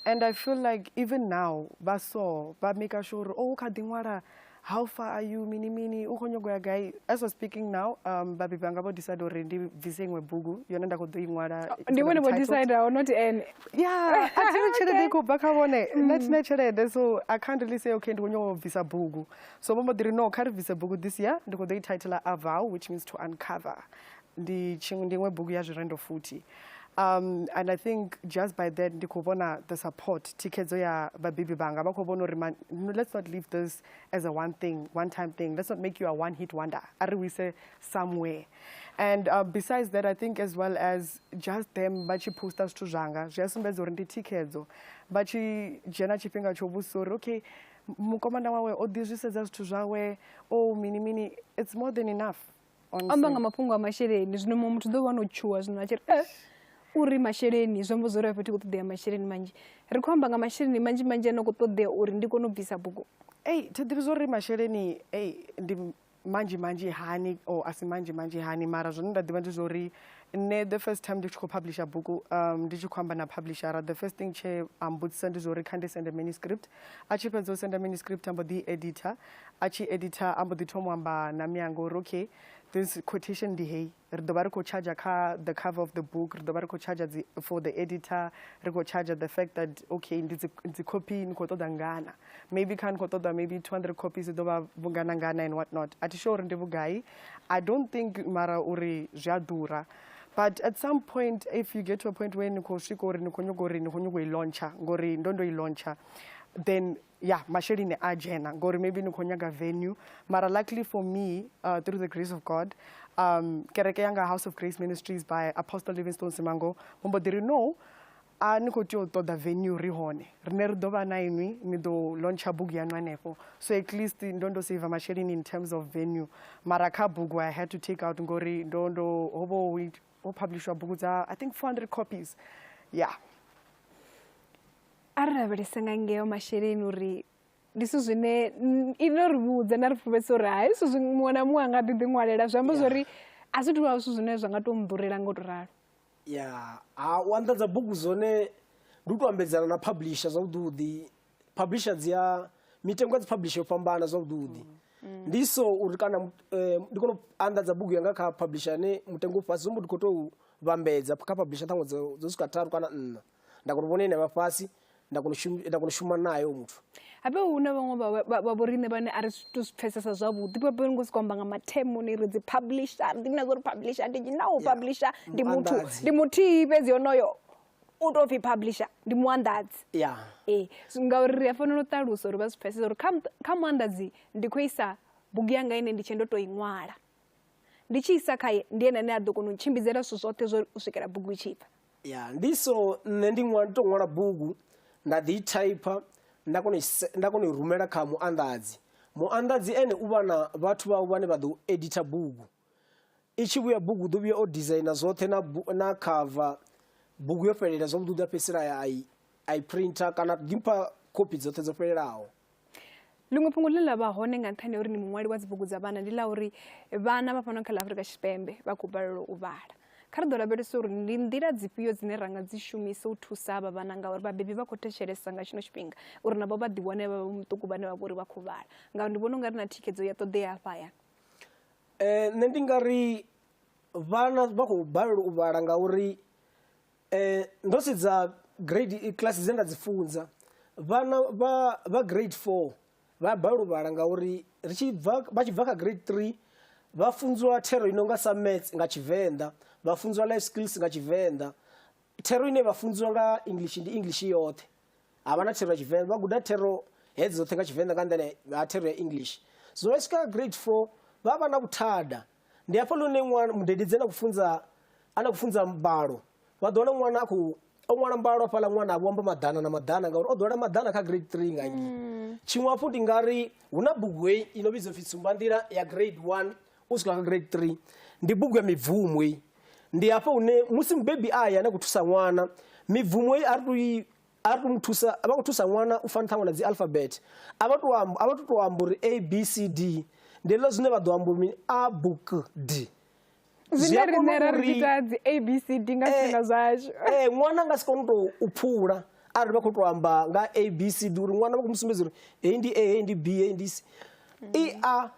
and i feel like even now vha so vha maker sure uri oh u kha ḓi ṅwala how far are you mini mini u khou nyongo ya gai as was speaking now um vhabebi vhanga vho decide uri ndi bvise iṅwe bugu yone nda khou ḓo i ṅwala oh, ndi vhone vho decideaho not ene ya a thini tshelede i khou bva kha vhone nna mm. thina tshelede so i can't really say okay ndi khou nyoko bvisa bugu so vho mbo ḓi ri no kha ri bvise bugu this year ndi khou ḓo i titla avow which means to uncover ndi ndi iṅwe bugu ya zwirendo futhi um and i think just by that ndi khou vhona the support thikhedzo ya vhabebi vhanga vha khou vhona uri no, let's not leave this as a one thing one time thing let's not make you a one hit wonder a ri wise somewhere and uh, besides that i think as well as just them vha tshi poster zwithu zwanga zwi a sumbedza uri ndi thikhedzo vha tshi dzhena tshifhinga tsho vhudzisa uri okay mukomana wawe o ḓi zwi sedza zwithu zwawe o oh, mini mini it's more than enough amba nga mafhungo a masheleni zwino muṅwe muthu ḓo vha no tshuwa zwino a tshi ri eh, uri masheleni zwi amba zwo ri a fhethu khou ṱoḓea masheleni manzhi ri khou amba nga masheleni manzhi manzhi ano khou ṱoḓea uri ndi kone u bvisa bugu ei thi ḓivhi zwo ri masheleni ei ndi manzhi manzhi hani or a si manzhi manzhi hani mara zwine nda ḓivha ndi zwa uri nṋe the first time ndi tshi khou publisha bugu um, ndi tshi khou amba na publishera the first thing tshe a mbudzisa ndi zwa uri kha ndi sende manuscript a tshi fhedza u senda manuscript a mbo ḓi editor a tshi editor a mbo ḓi thoma u amba na mianga uri okay this quotation ndi heyi ri ḓo vha ri khou charger kha the cover of the book ri ḓo vha ri khou charger for the editor ri khou charger the fact that okay ndi dzi copy ni khou ṱoḓa ngana maybe kha ni khou ṱoḓa maybe 200 copies i ḓo vha vhungana ngana and what not a thi sure uri ndi vhugai i don't think mara uri zwi a ḓura but at some point if you get to a point where ni khou swika uri ni khou nyuga uri ni khou nyuga u i launcha ngori ndo ndo i launcha then ya masheleni a dzhena ngori maybe ni khou nyaga venue mara luckily for me uh, through the grace of god um, kereke yanga house of grace ministries by apostle livingstone simango vho mbo ḓi ri no a ni khou tea u ṱoḓa venue ri hone rine ri ḓo vha na inwi ni ḓo launcha bugu yaṋu hanefho so at least ndo ndo save masheleni in terms of venue mara kha bugu i had to take out ngori ndo ndo ho vho ho publishwa bugu dza i think 400 copies yeah a ri lavhelese nga ngeo masheleni uri ndi zwithu zwine i no ri vhudza na ri pfuvhesa uri hai zwithu zwi muṅwe na muṅwe a nga ḓi ḓi ṅwalela zwi amba zwa uri a zwi tuvha zwithu zwine zwa nga tou mḓurela nga u to ralo ya ha u anḓadza bugu zwone ndi u to ambedzana na publisher zwavhuḓi publisher dzi a mitengo ya dzi publisher yo fhambana zwavhuḓi mm. ndi so uri kana eh, ndi kone u anḓadza bugu yanga kha publisher ane mutengo u fhasi zwi mbo ndi khou tou vhambedza kha publisher ṱhaṅwe dzo swika tharu kana nṋa nda kona u vhona ine vha fhasi nda kona nda kona u shuma nayo muthu habe hu na vhaṅwe vha vhoriṋe vhane a ri to zwi pfesesa zwavhuḓi vha bve ngo siko amba nga mathemo ni ri dzi publisher ndi na zwo ri publisher ndi na u publisher ndi muthu ndi muthihi fhedzi honoyo u to pfhi publisher ndi muanḓadzi ya ee ngauri ri a fanela u ṱalusa uri vha zwi pfesesa uri kha kha muanḓadzi ndi khou isa bugu yanga ine ndi tshe ndo to i ṅwala Ndi tshi isa khae, ndi ene ane a ḓo kona u ntshimbidzela zwithu zwoṱhe zwo u swikela bugu i tshi bva. Ya, ndi so nṋe ndi ṅwala, ndi tou ṅwala bugu nda ḓi i thaipha nda kona nda kona u rumela kha muanḓadzi. Muanḓadzi ene u vha na vhathu vhawe vhane vha ḓo editha bugu. I tshi vhuya bugu u ḓo vhuya o designer zwoṱhe na na cover bugu yo fhelela zwavhuḓi u ḓo fhedzisela a i a i printer kana ḓi mpha khophi dzoṱhe dzo fhelelaho. Ḽiṅwe fhungo ḽine ḽa vha hone nga nṱhani ha uri ni muṅwali wa dzibugu dza vhana ndi ḽa uri vhana vha fhano kha ḽa Afurika Tshipembe vha khou balelwa u vhala kha ri ḓo lavhelesa uri ndi nḓila dzifhio dzine ra nga dzi shumisa u thusa havha vhana ngauri vhabebi vha khou thetshelesa nga tshino tshifhinga uri navho vha ḓiwane vha vha muṱuku vhane vha vha uri vha khou vhala ngauri ndi vhona u nga ri na thikhedzo ya ṱoḓea hafha hayani um nṋe ndi nga ri vhana vha khou balelwa u vhala ngauri Eh, ndo sedza grade eh, class dze nda dzi funza vhana vha vha grade 4 vha balelwa vhala ngauri ri tshi bva vha tshi bva kha grade 3 vha funziwa thero i no nga sa maths nga tshivenḓa vha funziwa life skills nga tshivenḓa thero ine vha funziwa nga english ndi english yoṱhe ha vha na thero ya tshivenḓa vha guda thero hedzi dzoṱhe nga tshivenḓa nga nḓila ya thero ya english so vha swika grade 4 vha vha na vhuthada ndi hafha lune ṅwana mudedi dzena kufunza ana kufunza mbalo vha ḓo wana ṅwana a khou o ṅwala mbalo hafhaḽa ṅwana a vhomba maḓana na maḓana ngauri o ḓowela maḓana kha grade three nga ngi mm. tshiṅwe hafhu ndi nga ri hu na bugu heyi i no vhidzwa pfhi tsumbanḓila ya grade one u swika kha grade three ndi bugu ya mibvumo heyi ndi hafha hune musi mubebi a ya na khou thusa ṅwana mibvumo heyi a ri tou i A ri tou mu thusa, vha khou thusa ṅwana u fana ṱhaṅwe na dzi alphabet. A vha tou amba, a vha tou tou amba uri A, B, C, D. Ndi ḽo zwine vha ḓo amba uri mini? A, B, K, D. Zwine riṋe ra ri ita dzi A, B, C, D nga zwifhinga eh, zwashu. Ee, eh, ṅwana nga si kone tou u phula arali vha khou tou amba nga A, B, C, D uri ṅwana vha khou mu sumbedza uri heyi ndi A, heyi ndi B, heyi ndi C. I, A,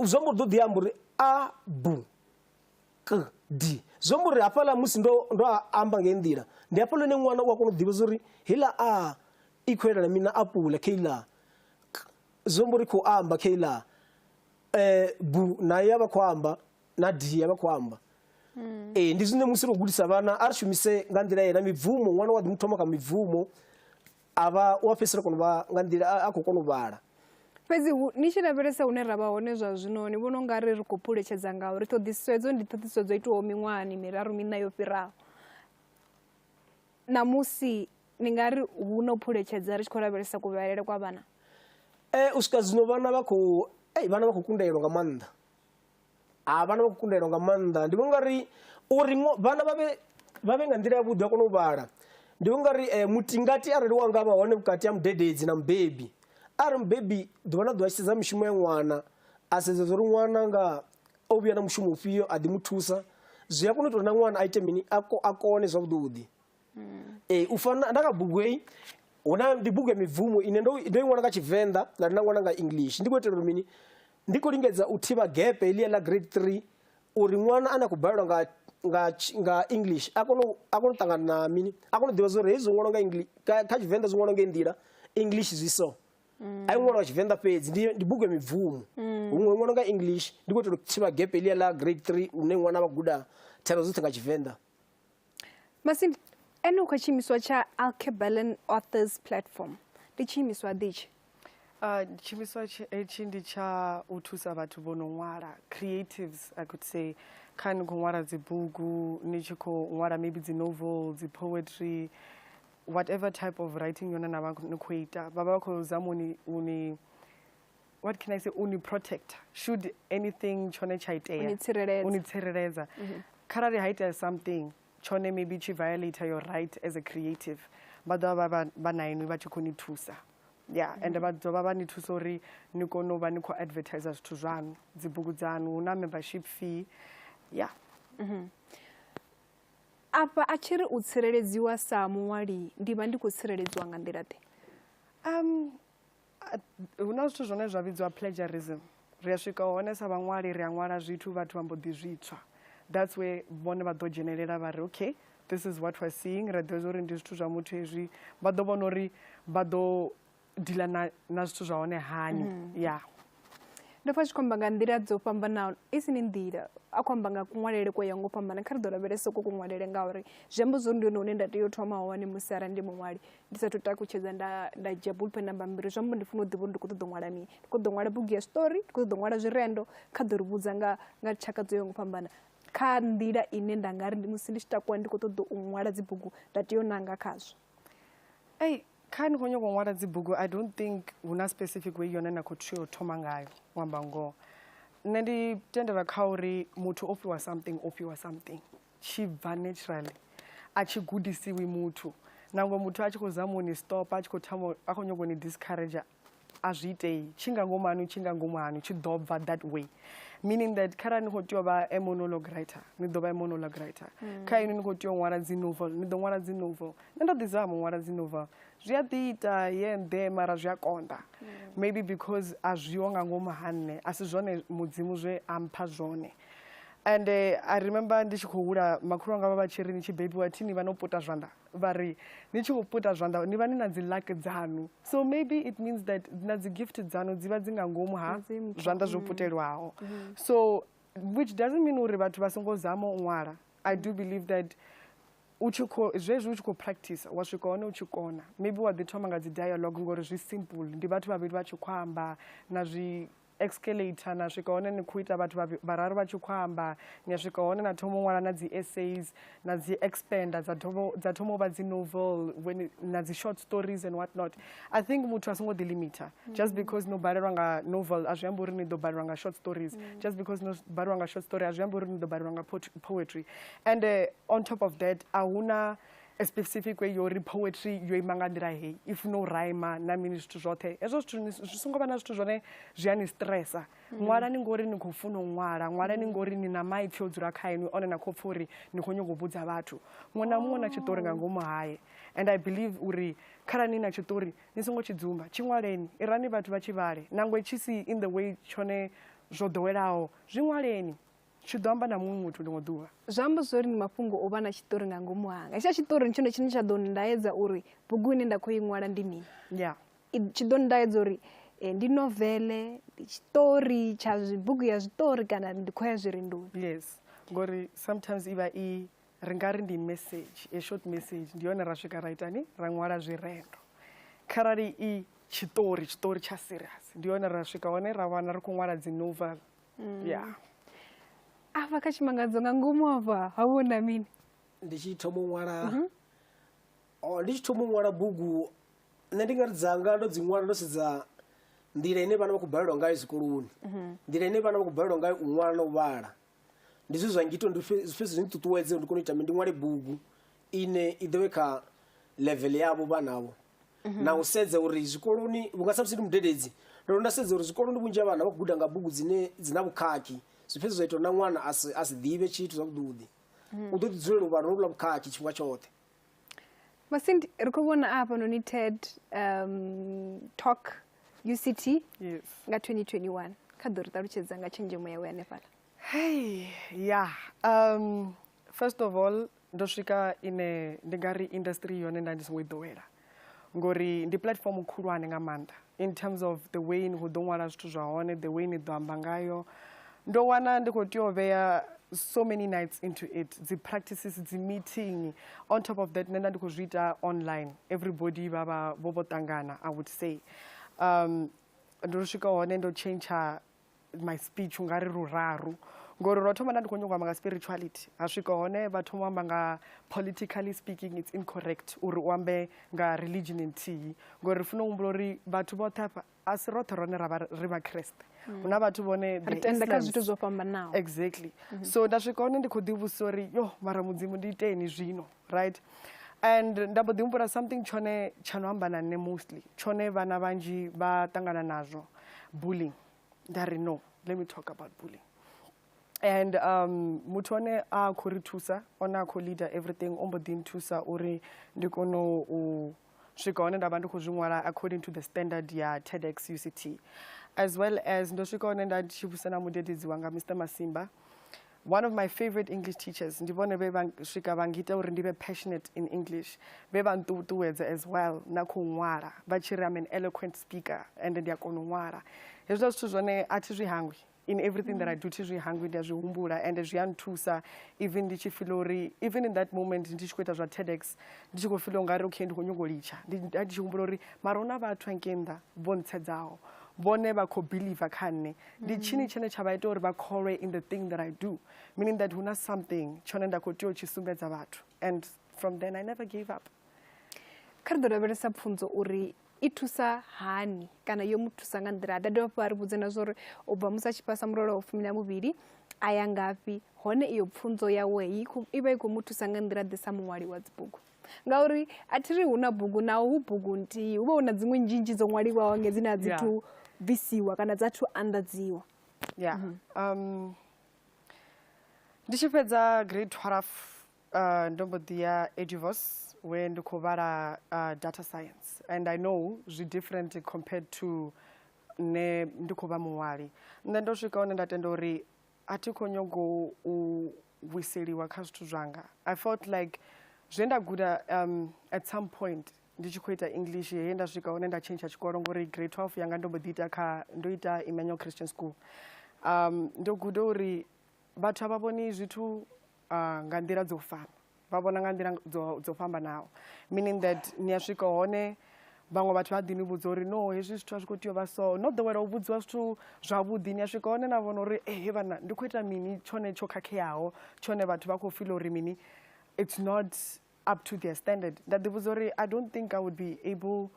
zwo mbo ḓo ḓi amba uri A, B. kd zwi amba uri hafhaḽa musi ndo ndo amba ngei nḓila ndi hafhaḽa hune ṅwana u a kona u ḓivha uri heiḽa a i khou elela mina apula kha iḽa zwi amba uri khou amba kha iḽa um bu nayo ya vha khou amba na d ya vha khou amba hmm. ee ndi zwine musi ro gudisa vhana a ri shumise nga nḓila yena mibvumo ṅwana wa ḓi mu thoma kha mibvumo A vha u a fhedzisela kona u vha nga nḓila a khou kona u vhala. Fhedzi ni tshi lavhelesa hune ra vha hone zwa zwino, ni vhona u nga ri ri khou phuletshedza nga uri ṱhoḓisiso hedzo ndi ṱhoḓisiso dzo itwaho miṅwahani miraru miṋa yo fhiraho. Ṋamusi ni nga ri hu na u phuletshedza ri tshi khou lavhelesa kuvhalele kwa vhana? Ee, u swika zwino vhana vha khou vhana vha khou kundelwa nga maanḓa a vhana vha khou kundelwa nga maanḓa ndi vhona ungari uri vhana vha vhe vha vhe nga nḓila yavhuḓi a kona u vhala ndi vhona ungari um mutingati arali wa nga vha hone vhukati ha mudededzi na mubebi arali mubebi ḓuvha na ḓuvha tshi sedza mishumo ya ṅwana a sedza zwa uri ṅwana nga o vhuya na mushumo ufhio a ḓi mu thusa zwi a kona u ita uri na ṅwana a ite mini a kone zwavhuḓi ee u fana nda kha bugu heyi huna ndi bugu ya mibvumo ine ndo ndo i ṅwana nga tshivenḓa nda ri na ṅwana nga english ndi khou itela uri mini Ndi khou lingedza u thivha gepe heḽia ḽa grade 3 uri ṅwana ane a khou balelwa nga nga nga English a kone a kone u ṱangana na mini a kone u ḓivha zwori hezwi ṅwalo nga English kha Tshivenḓa zwi ṅwalo nga nḓila English zwi so a i ṅwalo wa Tshivenḓa fhedzi ndi ndi bugu ya mibvumo mm. huṅwe ṅwalo nga English ndi khou itela u thivha gepe ḽia ḽa grade 3 une ṅwana vha guda thero dzoṱhe nga Tshivenḓa Masimba, ene u kha tshiimiswa tsha Alkebalan Authors Platform. Ndi tshiimiswa ḓi itshi? Uh, tshiimiswa hetshi ndi tsha u thusa vhathu vho no ṅwala creatives i could say kha ni khou ṅwala dzibugu ni tshi khou ṅwala maybe dzi novel dzi poetry whatever type of writing yone na vha ni khou ita vha vha vha khou zama uni uni what can i say uni protector should anything tshone tsha itea uni tsireledza mhm. kharali ha itea something tshone maybe tshi violator your right as a creative vha ḓo vha vha na inwi vha tshi khou ni thusa ya mhm. ende vha ḓo vha vha ni thusa uri ni kone u vha ni khou advertise zwithu zwaṋu dzibugu dzaṋu hu na membership fee ya mhm. afha a tshi ri u tsireledziwa sa muṅwali ndi vha ndi khou tsireledziwa nga nḓila ḓe um hu na zwithu zwine zwa vhidzwa plagiarism ri a swika hone sa vhaṅwali ri a ṅwala zwithu vhathu vha mbo ḓi zwitswa that's where vhone vha ḓo dzhenelela vha ri okay this is what we're seeing ra ḓivha zwa uri ndi zwithu zwa muthu hezwi vha ḓo vhona uri vha ḓo dila na na zwithu zwa hone hani mm. ya yeah. ndo pfa tshi khou amba nga nḓila dzo fhambanaho i si ni nḓila a khou amba nga kuṅwalele ko ya ngo fhambana kha ri ḓo lavhelesa ko kuṅwalele ngauri zwi amba zwori ndi hone hune nda tea u thoma hone musi arali ndi muṅwali ndi sathu takutshedza nda nda dzhia bulpen na bammbiri zwi amba ndi funa u ḓivha uri ndi khou ṱoḓa u ṅwala mini ndi khou ḓo ṅwala bugu ya story ndi khou ṱoḓa u ṅwala zwirendo kha ḓo ri vhudza nga nga tshaka dzo ya ngo fhambana kha nḓila ine nda nga ri musi ndi tshi takuwa ndi khou ṱoḓa u ṅwala dzibugu nda tea u nanga khazwo ei kha ni khou nyoko ṅwala dzibugu i don't think hu na specific way yone na khou tea u thoma ngayo u amba ngoho nṋe ndi tendela kha uri muthu o fhiwa something o fhiwa something tshi bva naturally a tshi gudisiwi muthu nangwe muthu a tshi khou zama u ni stopa a tshi khou thoma a khou nyoko ni discourager a zwi itei tshi nga ngomu hanu tshi nga ngomu hanu tshi ḓo bva that way meaning that kharali ni khou tea u vha a monologue writer ni ḓo vha a monologue writer mm. kha inwi ni khou tea u ṅwala dzi novel ni ḓo ṅwala dzi novel nṋe ndo ḓi zama u ṅwala dzi novel zwi a ḓi ita ye nḓe mara zwi a konḓa mm. maybe because a zwiho nga ngomu ha nṋe a si zwone mudzimu zwe a mpha zwone and uh, i remember ndi tshi khou hula makhulu anga vha vha tshi ri ni tshi bebiwa thi ni vha no puta zwanḓa vha ri ni tshi vho puta zwanḓa ni vha ni na dzi luck dzanu so maybe it means that na dzi gift dzanu dzi vha dzi nga ngomu ha zwanḓa zwo mm. putelwaho mm. so which doesn't mean uri vhathu vha songo zama u ṅwala i do believe that u tshi kho zwezwi u tshi khou practice wa swika hone u tshi kona maybe wa ḓi thoma nga dzi dialogue ngori zwi simple ndi vhathu vhavhili vha tshi khou amba na zwi escalator na swika hone ni khou ita vhathu vhararu vha tshi khou amba ni a swika hone na thoma u ṅwala na dzi essays na dzi expanda dza thoma dza thoma u vha dzi novel when na dzi short stories and what not i think muthu a songo ḓi limiter just because no balelwa nga novel a zwi amba uri ni ḓo balelwa nga short stories mm. just because no balelwa nga short story a zwi amba uri ni ḓo balelwa nga poetry and uh, on top of that a huna a specific way yori poetry yo ima nga nḓila heyi i funa u rhyma na mini zwithu zwoṱhe hezwo zwithu zwi songo vha na zwithu zwone zwi a ni stressa mm. ṅwala ni ngori ni khou funa u ṅwala ṅwala ni ngori ni na maipfi o dzula kha inwi one na khou pfa uri ni khou nyongo vhudza vhathu muṅwe na muṅwe na tshiṱori nga ngomu haye and i believe uri kharali ni na tshiṱori ni songo tshi dzumba tshi ṅwaleni irani vhathu vha tshi vhale nangwe tshi si in the way tshone zwo ḓowelaho zwi ṅwaleni tshi ḓo amba na muṅwe muthu ḽiṅwe ḓuvha zwi amba zwo ri ndi mafhungo o vha na tshiṱori nga ngomu hanga hetsha tshiṱori ndi tshone tshine tsha ḓo ndaedza uri bugu ine nda khou i ṅwala ndi mini ya tshi ḓo ndaedza uri eh, ndi novele ndi tshiṱori tsha bugu ya zwiṱori kana ndi khou ya zwirindoni yes ngori sometimes i vha i ri nga ri ndi message a short message ndi yone ra swika ra itani ra ṅwala zwirendo kharali i tshiṱori tshiṱori tsha serious ndi yone ra swika hone ra wana ri khou ṅwala dzi novel mm. yeah. apa kachimangadzo nga ngomu apa hauona mini ndichithoma un'wala mm -hmm. oh, ndichithoma un'wala bugu nṋe ndi ngati dzanga ndo dziṅwala ndo sedza nḓila ine vhana vha khou balelwa ngayo zwikoloni mhm. nḓila ine vhana vha khou balelwa ngayo u ṅwala na u vhala ndi zwe zwa ngito zwi fhedzi zwi nṱuṱuwedze ndi kone u ita ndi ṅwale bugu ine i ḓo vhe kha level yavho vhanavho mhm. na u sedza uri zwikoloni vhunga samusi ndi mudededzi ndo nda sedza uri zwikoloni vhunzhi ha vhana vha khou guda nga bugu dzine dzi na vhukhakhi zwi fhedza zwa ita na ṅwana a si ḓivhe tshithu zwavhuḓuḓi mhm. u ḓo ḓi dzulela u vha ro lula vhukhakhi tshifhinga tshoṱhe masindi ri khou vhona a hafhanoni ted um, talk uct nga 2021 kha ḓo ri ṱalutshedza nga tshenzhemo yawe hanefhala hei ya um, first of all ndo swika ine ndi nga ri industry yone nda ndi songo i ḓowela ngori ndi platform khulwane nga maanḓa in terms of the way ni khou ḓo ṅwala zwithu zwa hone the way ni ḓo amba ngayo ndo wana ndi khou tea u vhea so many nights into it dzi practices dzi meeting on top of that nṋe nda ndi khou zwi ita online everybody vha vha vho vho ṱangana i would say um, ndo swika hone ndo tshentsha my speech unga ri ruraru ngori ro thoma nda ndi khou nyongo amba nga spirituality ha swika hone vha thoma u amba nga politically speaking it's incorrect uri u ambe nga religion nthihi ngori ri funa u humbula uri vhathu vhoṱhe afha a si roṱhe rone ra vha ri vhakreste mm. hu na vhathu vhone exactly mm-hmm. so nda swika hone ndi khou ḓivhusa uri yo mara mudzimu ndi iteni zwino right and nda mbo ḓi humbula something tshone tsha no amba na nṋe mostly tshone vhana vhanzhi vha ṱangana nazwo bullying nda ri no let me talk about bullying and um muthu one a khou ri thusa one a khou leader everything o mbo ḓi nthusa uri ndi kone u swika hone nda vha ndi khou zwi ṅwala according to the standard ya tedx uct as well as ndo swika hone nda tshi vhusa na mudededzi wanga mr masimba one of my favorite english teachers ndi vhone vhe vha swika vha ngita uri ndi vhe passionate in english vhe vha nṱuṱuwedza as well na khou ṅwala vha tshi ri am an eloquent speaker and ndi a kona u ṅwala hezwiḽa zwithu zwone a thi zwi hangwi in everything mm. that i do thi zwi hangwi ndi a zwi humbula and zwi a nthusa even ndi tshi fila uri even in that moment ndi tshi khou ita zwa tedex ndi tshi khou fila ungari okay ndi khou nyongo litsha ndi tshi humbula uri mara hu na vhathu anke nnḓa vho ntshedzaho vhone vha khou believer kha nṋe ndi mm. tshini tshine tsha vha ita uri vha kholwe in the thing that i do meaning that hu na something tshone nda khou tea u tshi sumbedza vhathu and from then i never gave up kha ri ḓo lavhelesa pfunzo uri i thusa hani kana yo mu thusa nga nḓila da dovha fha ri vhudze na zwa uri u bva musi a tshi fhasa mulolo wa fumi na muvhili a ya ngafhi hone iyo pfunzo yawe i vha i khou mu thusa nga nḓila ḓisa muṅwali wa dzibugu ngauri a thi ri hu na bugu naho hu bugu nthihi hu vha hu na dziṅwe nzhinzhi dzo ṅwaliwaho nge dzine a dzi thu bvisiwa kana dza thu anḓadziwa ya mhm. um, ndi tshi fhedza grade twelve uh, ndo mbo ḓi ya edivos we ndi khou vhala uh, data science and i know zwi different compared to nṋe ndi khou vha muṅwali nṋe ndo swika hone nda tenda uri a thi khou nyago u vhuiseliwa kha zwithu zwanga i felt like zwe nda guda um, at some point ndi tshi khou ita english he nda swika hone nda tshentsha tshikolo ngori grade 12 yanga ndo mbo ḓi ita kha ndo ita emmanuel christian school um, ndo guda uri vhathu a vha vhoni zwithu uh, nga nḓila dzo fana vha vhona nga nḓila dzo fhambanaho meaning that ni a swika hone vhaṅwe vhathu vha ḓi ni vhudza uri no hezwi zwithu a zwi khou tea u vha so no ḓowela u vhudziwa zwithu zwavhuḓi ni a swika hone na vhona uri ehe eh, vhana ndi khou ita mini tshone tsho khakheaho tshone vhathu vha khou fila uri mini it's not up to their standard nda ḓi vhudza uri i don't think i would be able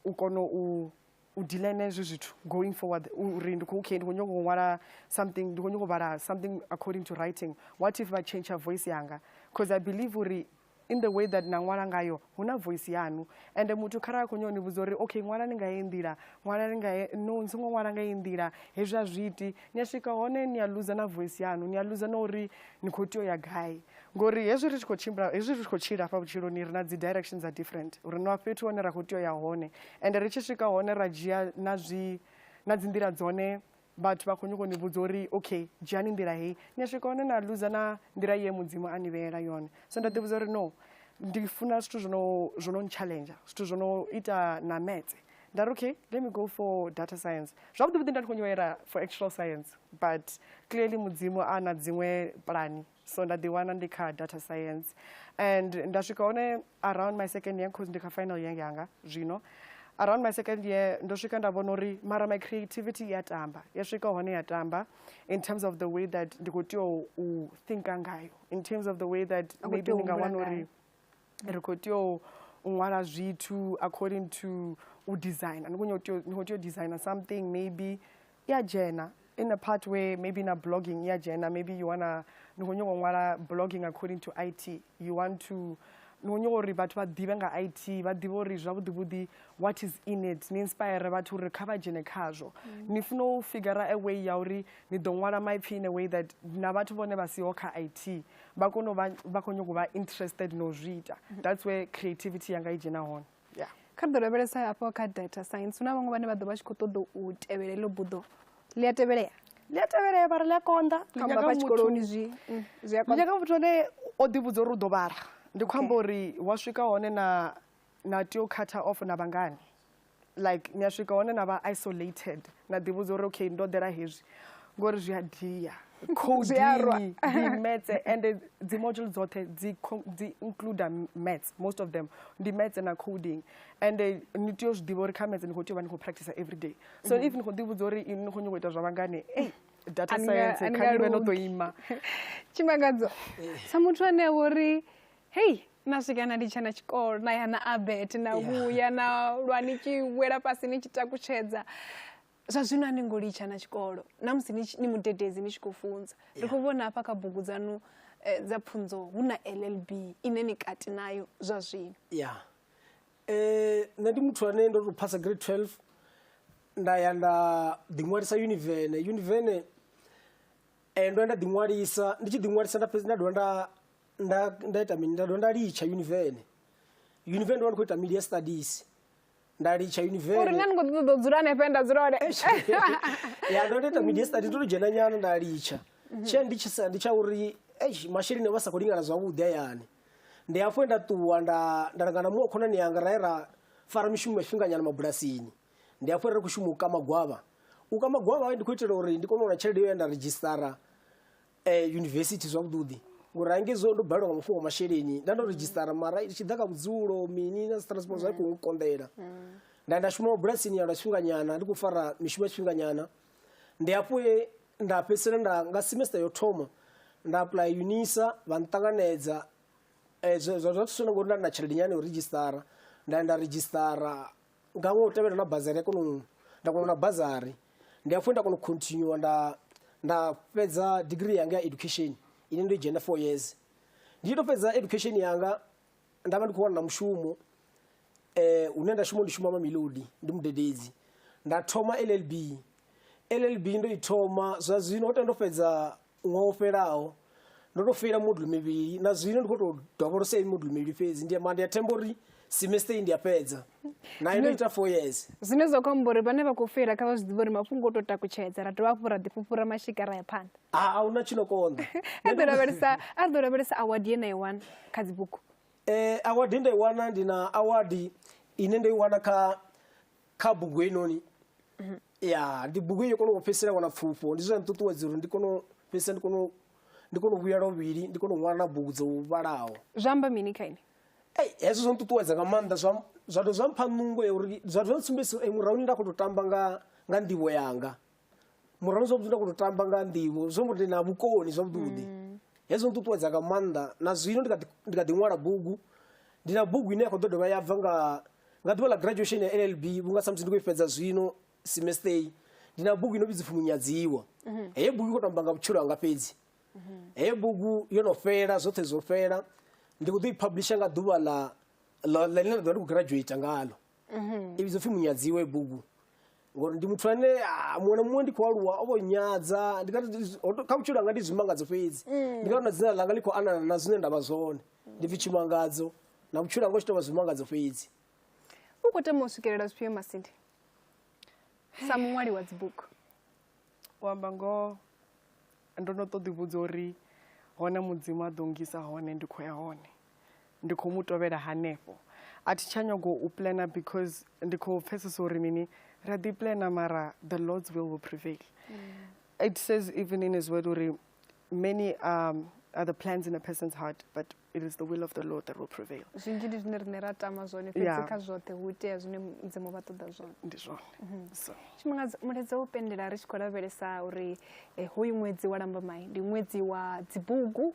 u kona u u dila na hezwo zwithu going forward uri ndi khou okay ndi khou nyanga u ṅwala something ndi khou nyanga u vhala something according to writing what if vha change voice yanga because i believe uri in the way that na ṅwala ngayo hu na voice yanu ende muthu khara a khou nyona ni vhudza uri okay ṅwala ni nga ye nḓila ṅwala ni nga ye no ni songo ṅwala nga ye nḓila hezwi a zwi iti ni a swika hone ni a loser na voice yanu ni a loser na uri ni khou tea u ya gai Ngori hezwi ri tshi khou tshimbila hezwi ri tshi khou tshila hafha vhutshiloni ri na dzi direction dza different uri na fhethu hone ra khou tea u ya hone ende ri tshi swika hone ra dzhia na zwi na dzi nḓila dzone vhathu vha khou nyoko ni vhudza uri okay dzhiani nḓila heyi ni a swika hone na luza na nḓila ye mudzimu a ni vheela yone so nda ḓi vhudza uri no ndi funa zwithu zwo no zwo no challenge zwithu zwo no ita na metse nda ri okay let me go for data science zwavhuḓi vhuḓi nda ndi khou nyoela for actual science but clearly mudzimu a na dziṅwe pulani so nda ḓiwana ndi kha data science and nda swika hone around my second year cause ndi kha final year yanga zwino around my second year ndo swika nda vhona uri mara my creativity ya tamba ya swika hone ya tamba in terms of the way that ndi khou tea u thinka ngayo in terms of the way that maybe ndi nga wana uri ri khou tea u ṅwala zwithu according to u designer ni khou tea u designer something maybe i a dzhena in a part where maybe na blogging i a dzhena maybe you wanna ni khou nyanga u ṅwala blogging according to it you want to ni khou nyanga uri vhathu vha ḓivhe nga it vha ḓivhe uri zwavhuḓivhuḓi what is in it ni inspire vhathu uri kha vha dzhene khazwo mm. ni funa u figura a way ya uri ni ḓo ṅwala maipfhi in a way that na vhathu vhone vha siho kha it vha kone uvha vha khou nyanga u vha interested no zwi ita mm-hmm. that's where creativity yanga i dzhena hone yeah kha ri ḓo lavhelesa hafho kha data science hu na vhaṅwe vhane vha ḓo vha tshi khou ṱoḓa u tevhela iḽo buḓo ḽi a tevhelea ḽi a tevhelea vha ri ḽi a konḓa ḽinyaka tshikoloni zwi mm, zwi a konḓa ḽinyaka muthu ane o ḓivhudza uri u ḓo vhala ndi khou amba uri wa swika hone na na tea u khatha off na vhangani like ni a swika hone na vha isolated na ḓivhudza uri okay ndo ḓela hezwi ngori zwi a dia codini metse and dzi module dzoṱhe dzi include mats most of them ndi mats na coding and ni tea u zwi ḓivha uri kha mats ni khou tea u vha ni khou practice every day so mhm. if ni khou ḓivhudza uri ni khou nyoko ita zwa vhangane ei data science kha ni vhe no ḓo ima tshimangadzo sa muthu ane a vho ri hei na swika na litsha na tshikolo na ya na abet na vhuya na lwa ni tshi wela fhasi ni tshi takutshedza zwa zwino a ni ngo litsha na tshikolo na musi ni mudededzi ni tshi khou funza ri khou vhona hafha kha bugu dzanu eh, dza pfunzo hu na llb ine ni kati nayo zwa zwino ya eh, nṋe ndi muthu ane ndo tou phasa grade 12 nda ya nda ḓiṅwalisa univene univene eh, ndo ya nda ḓiṅwalisa ndi tshi ḓiṅwalisa nda fhedzi nda dovha nda nda nda ita mini nda dovha nda litsha univene univene ndo vha ndi khou ita media studies nda litsha uri univene nṋe ni kho ḓi ṱoḓa u dzula hanefhe nda dzula hone ya ndo ita media studies ndo to dzhena nyana nda litsha tshea ndi tshi sa ndi tsha uri eish masheleni vha sa khou lingana zwavhuḓi hayani ndi hafho he nda ṱuwa nda nda langa na muṅwe khonani yanga ra ye ra fara mishumo mifhinganyana mabulasini ndi hafho he ra ri khou shuma u kama gwavha u kama gwavha ndi khou itela uri ndi kone u wana tshelede yo ya nda redzhisitara eh, yunivesithi zwavhuḓi ngori hangezwo ndo balelwa nga mafhungo a masheleni nda ndo redzhisitara mara i tshi ḓa kha vhudzulo mini na transport zwa i khou konḓela nda nda shuma mabulasini ya lwa tshifhinganyana ndi khou fara mishumo ya tshifhinganyana ndi hafho he nda fhedzisela nda nga semester yo thoma nda apply unisa vha nṱanganedza Eh, zwa zwa zwa thusa na ngori nda ndi na tshelede nyana ya u redzhisitara nda ya nda redzhisitara nga ṅwe u tevhela na bazari ya kona u nda kona na bazari ndi hafhu nda kona u continue nda nda fhedza degree yanga ya education ine ndo dzhena four years ndi tshi to fhedza education yanga nda vha ndi khou wana na mushumo eh hune nda shuma ndi shuma mamilodi ndi mudededzi nda thoma llb llb ndo i thoma zwa zwino ho tenda ndo fhedza Ṅwaha u fhelaho ndo tou feila moduḽu mivhili na zwino ndi khou tou dovholosa iyi moduḽu mivhili fhedzi ndi mara ndi a themba uri semester iyi ndi a fhedza nayo ndo ita four years zwine zwa khou amba uri vhane vha khou feila kha vha zwi ḓivhe uri mafhungo o tou takutshedza ra dovha hafhu ra ḓifhufhura mashika ra ya phanḓa a hu na tshi no konḓa a ḓo lavhelesa a ḓo lavhelesa award ye na i wana kha dzibugu um award ye nda i wana ndi na award ine ndo i wana kha kha bugu heinoni mhm. ya ndi bugu yo kona u fhedzisela wana pfufho ndi zwone nṱuṱuwedza uri ndi kone fhedzisa ndi kone ndi kone u vhuya lovhili ndi kone u ṅwala na bugu dzo vhalaho zwa amba mini kha ini ei hezwo zwo nṱuṱuwedza nga maanḓa zwa zwa tou zwa mpha nungo ya uri zwa tou zwa ntsumbedzisa uri murahuni nda khou tou tamba nga nga nḓivho yanga murano zwavhuḓi nda koto tamba nga nḓivho zwo mbo na vhukoni zwavhuḓi mm. hezwo nṱuṱuwedza nga maanḓa na zwino ndi kha ḓi ṅwala bugu ndi na bugu ine ya khou ḓo dovha ya bva nga nga ḓuvha ḽa graduation ya llb vhunga samusi ndi khou i fhedza zwino semester ndi na bugu ino vhidzi pfhi munyadziwa mhm. heyo bugu i khou tamba nga vhutshilo hanga fhedzi mhm. heyo bugu yo no fhela zwoṱhe zwo fhela ndi khou ḓo i publisha nga ḓuvha ḽa ḽine ḽa ḓovha ndi khou graduata ngalo mhm. i vhidzo pfhi munyadziwa i bugu ngori ndi muthu ane ah, muṅwe na muṅwe ndi khou aluwa o vho nyadza ndi ngati ndi- ho to- kha vhutshilo hanga ndi zwimangadzo fhedzi ndi ngati na dzina langa ḽi khou anana na zwine nda vha zwone ndi pfi tshimangadzo na vhutshilo hanga u tshi tou vha zwimangadzo fhedzi u khou tama u swikelela zwifhio masindi sa muṅwali wa dzibugu u amba ngoho ndo no ṱoḓi vhudza uri hone mudzimu a ḓo ngisa hone ndi khou ya hone ndi khou mu tovhela hanefho a thi tsha nyago u plana because ndi khou pfesesa uri mini ri a ḓi plana mara the lords will will prevail mm. it says even in his word uri many um, are the plans in a person's heart but it is the will of the lord that will prevail zwinzhi ndi zwine rine ra tama zwone fhedzi kha zwoṱhe hu itea zwine mudzimu vha ṱoḓa zwone ndi zwone mhm. so tshifhinga mulaedza wo pendela ri tshi khou lavhelesa uri eh, hoyu ṅwedzi wa lambamai ndi ṅwedzi wa dzibugu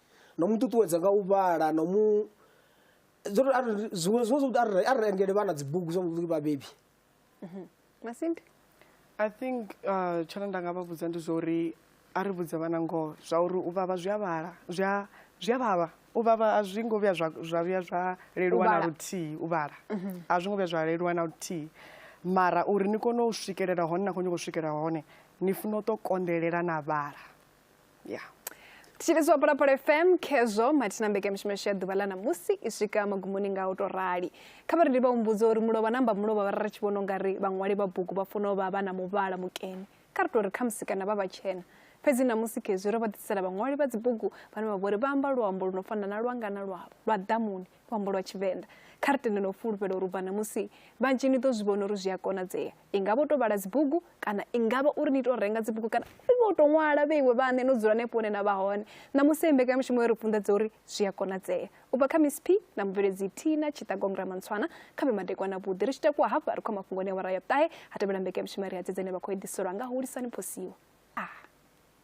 no mu ṱuṱuwedza nga u vhala no mu zwiṅwe zwiṅwe zwo arali arali engele vhana dzibugu zwa vhuḓi vhabebi mhm. masindi i think uh, tshone nda nga vha vhudza ndi zwa uri a ri vhudze vhana ngoho zwa uri u vhavha zwi a vhala zwi a zwi a vhavha u vhavha a zwi ngo vhuya zwa vhuya zwa leluwa na luthihi u vhala mhm. a zwi ngo vhuya zwa leluwa na luthihi mara uri ni kone u swikelela hone na khou nyoko swikelela hone ni funa u to kondelela na vhala yeah tshilizwa phalaphala fm khezwo mathina mbekamishumo yashu ya ḓuvha ḽa ṋamusi i swika magumoni nga u tou rali kha vha ri ndi vha humbudze uri mulovha namba mulovha vha ri tshi vhona ungari vhaṅwali vha bugu vha funa u vha vha na muvhala mukene kha ri tou ri khamusi kana vha vhatshena fhedzi ṋamusi khezwi ro vha ḓisela vhaṅwali vha dzibugu vhane vha vhori vha amba luambo lu no fana na lwanga na lwavho lwa ḓamuni luambo lwa Tshivenḓa. Kha ri tende no fhulufhela uri u bva ṋamusi vhanzhi ni ḓo zwi vhona uri zwi a konadzea. I nga vha u tou vhala dzibugu kana i nga vha uri ni tou renga dzibugu kana i vha u tou ṅwala vhe iwe vhaṋe no dzula hanefho hune na vha hone. Ṋamusi heyi mbekanyamushumo yo ri funḓedza uri zwi a konadzea. U bva kha Miss P na mubveledzi Tina Tshiṱagong Ramantswana kha vhe madekwana vhuḓi ri tshi takuwa hafha ri khou mafhungo ne awara ya ṱahe ha tevhela mbekanyamushumo ya ri hadzedzeni vha khou eḓiselwa nga Hulisani Phosiwa. Ah.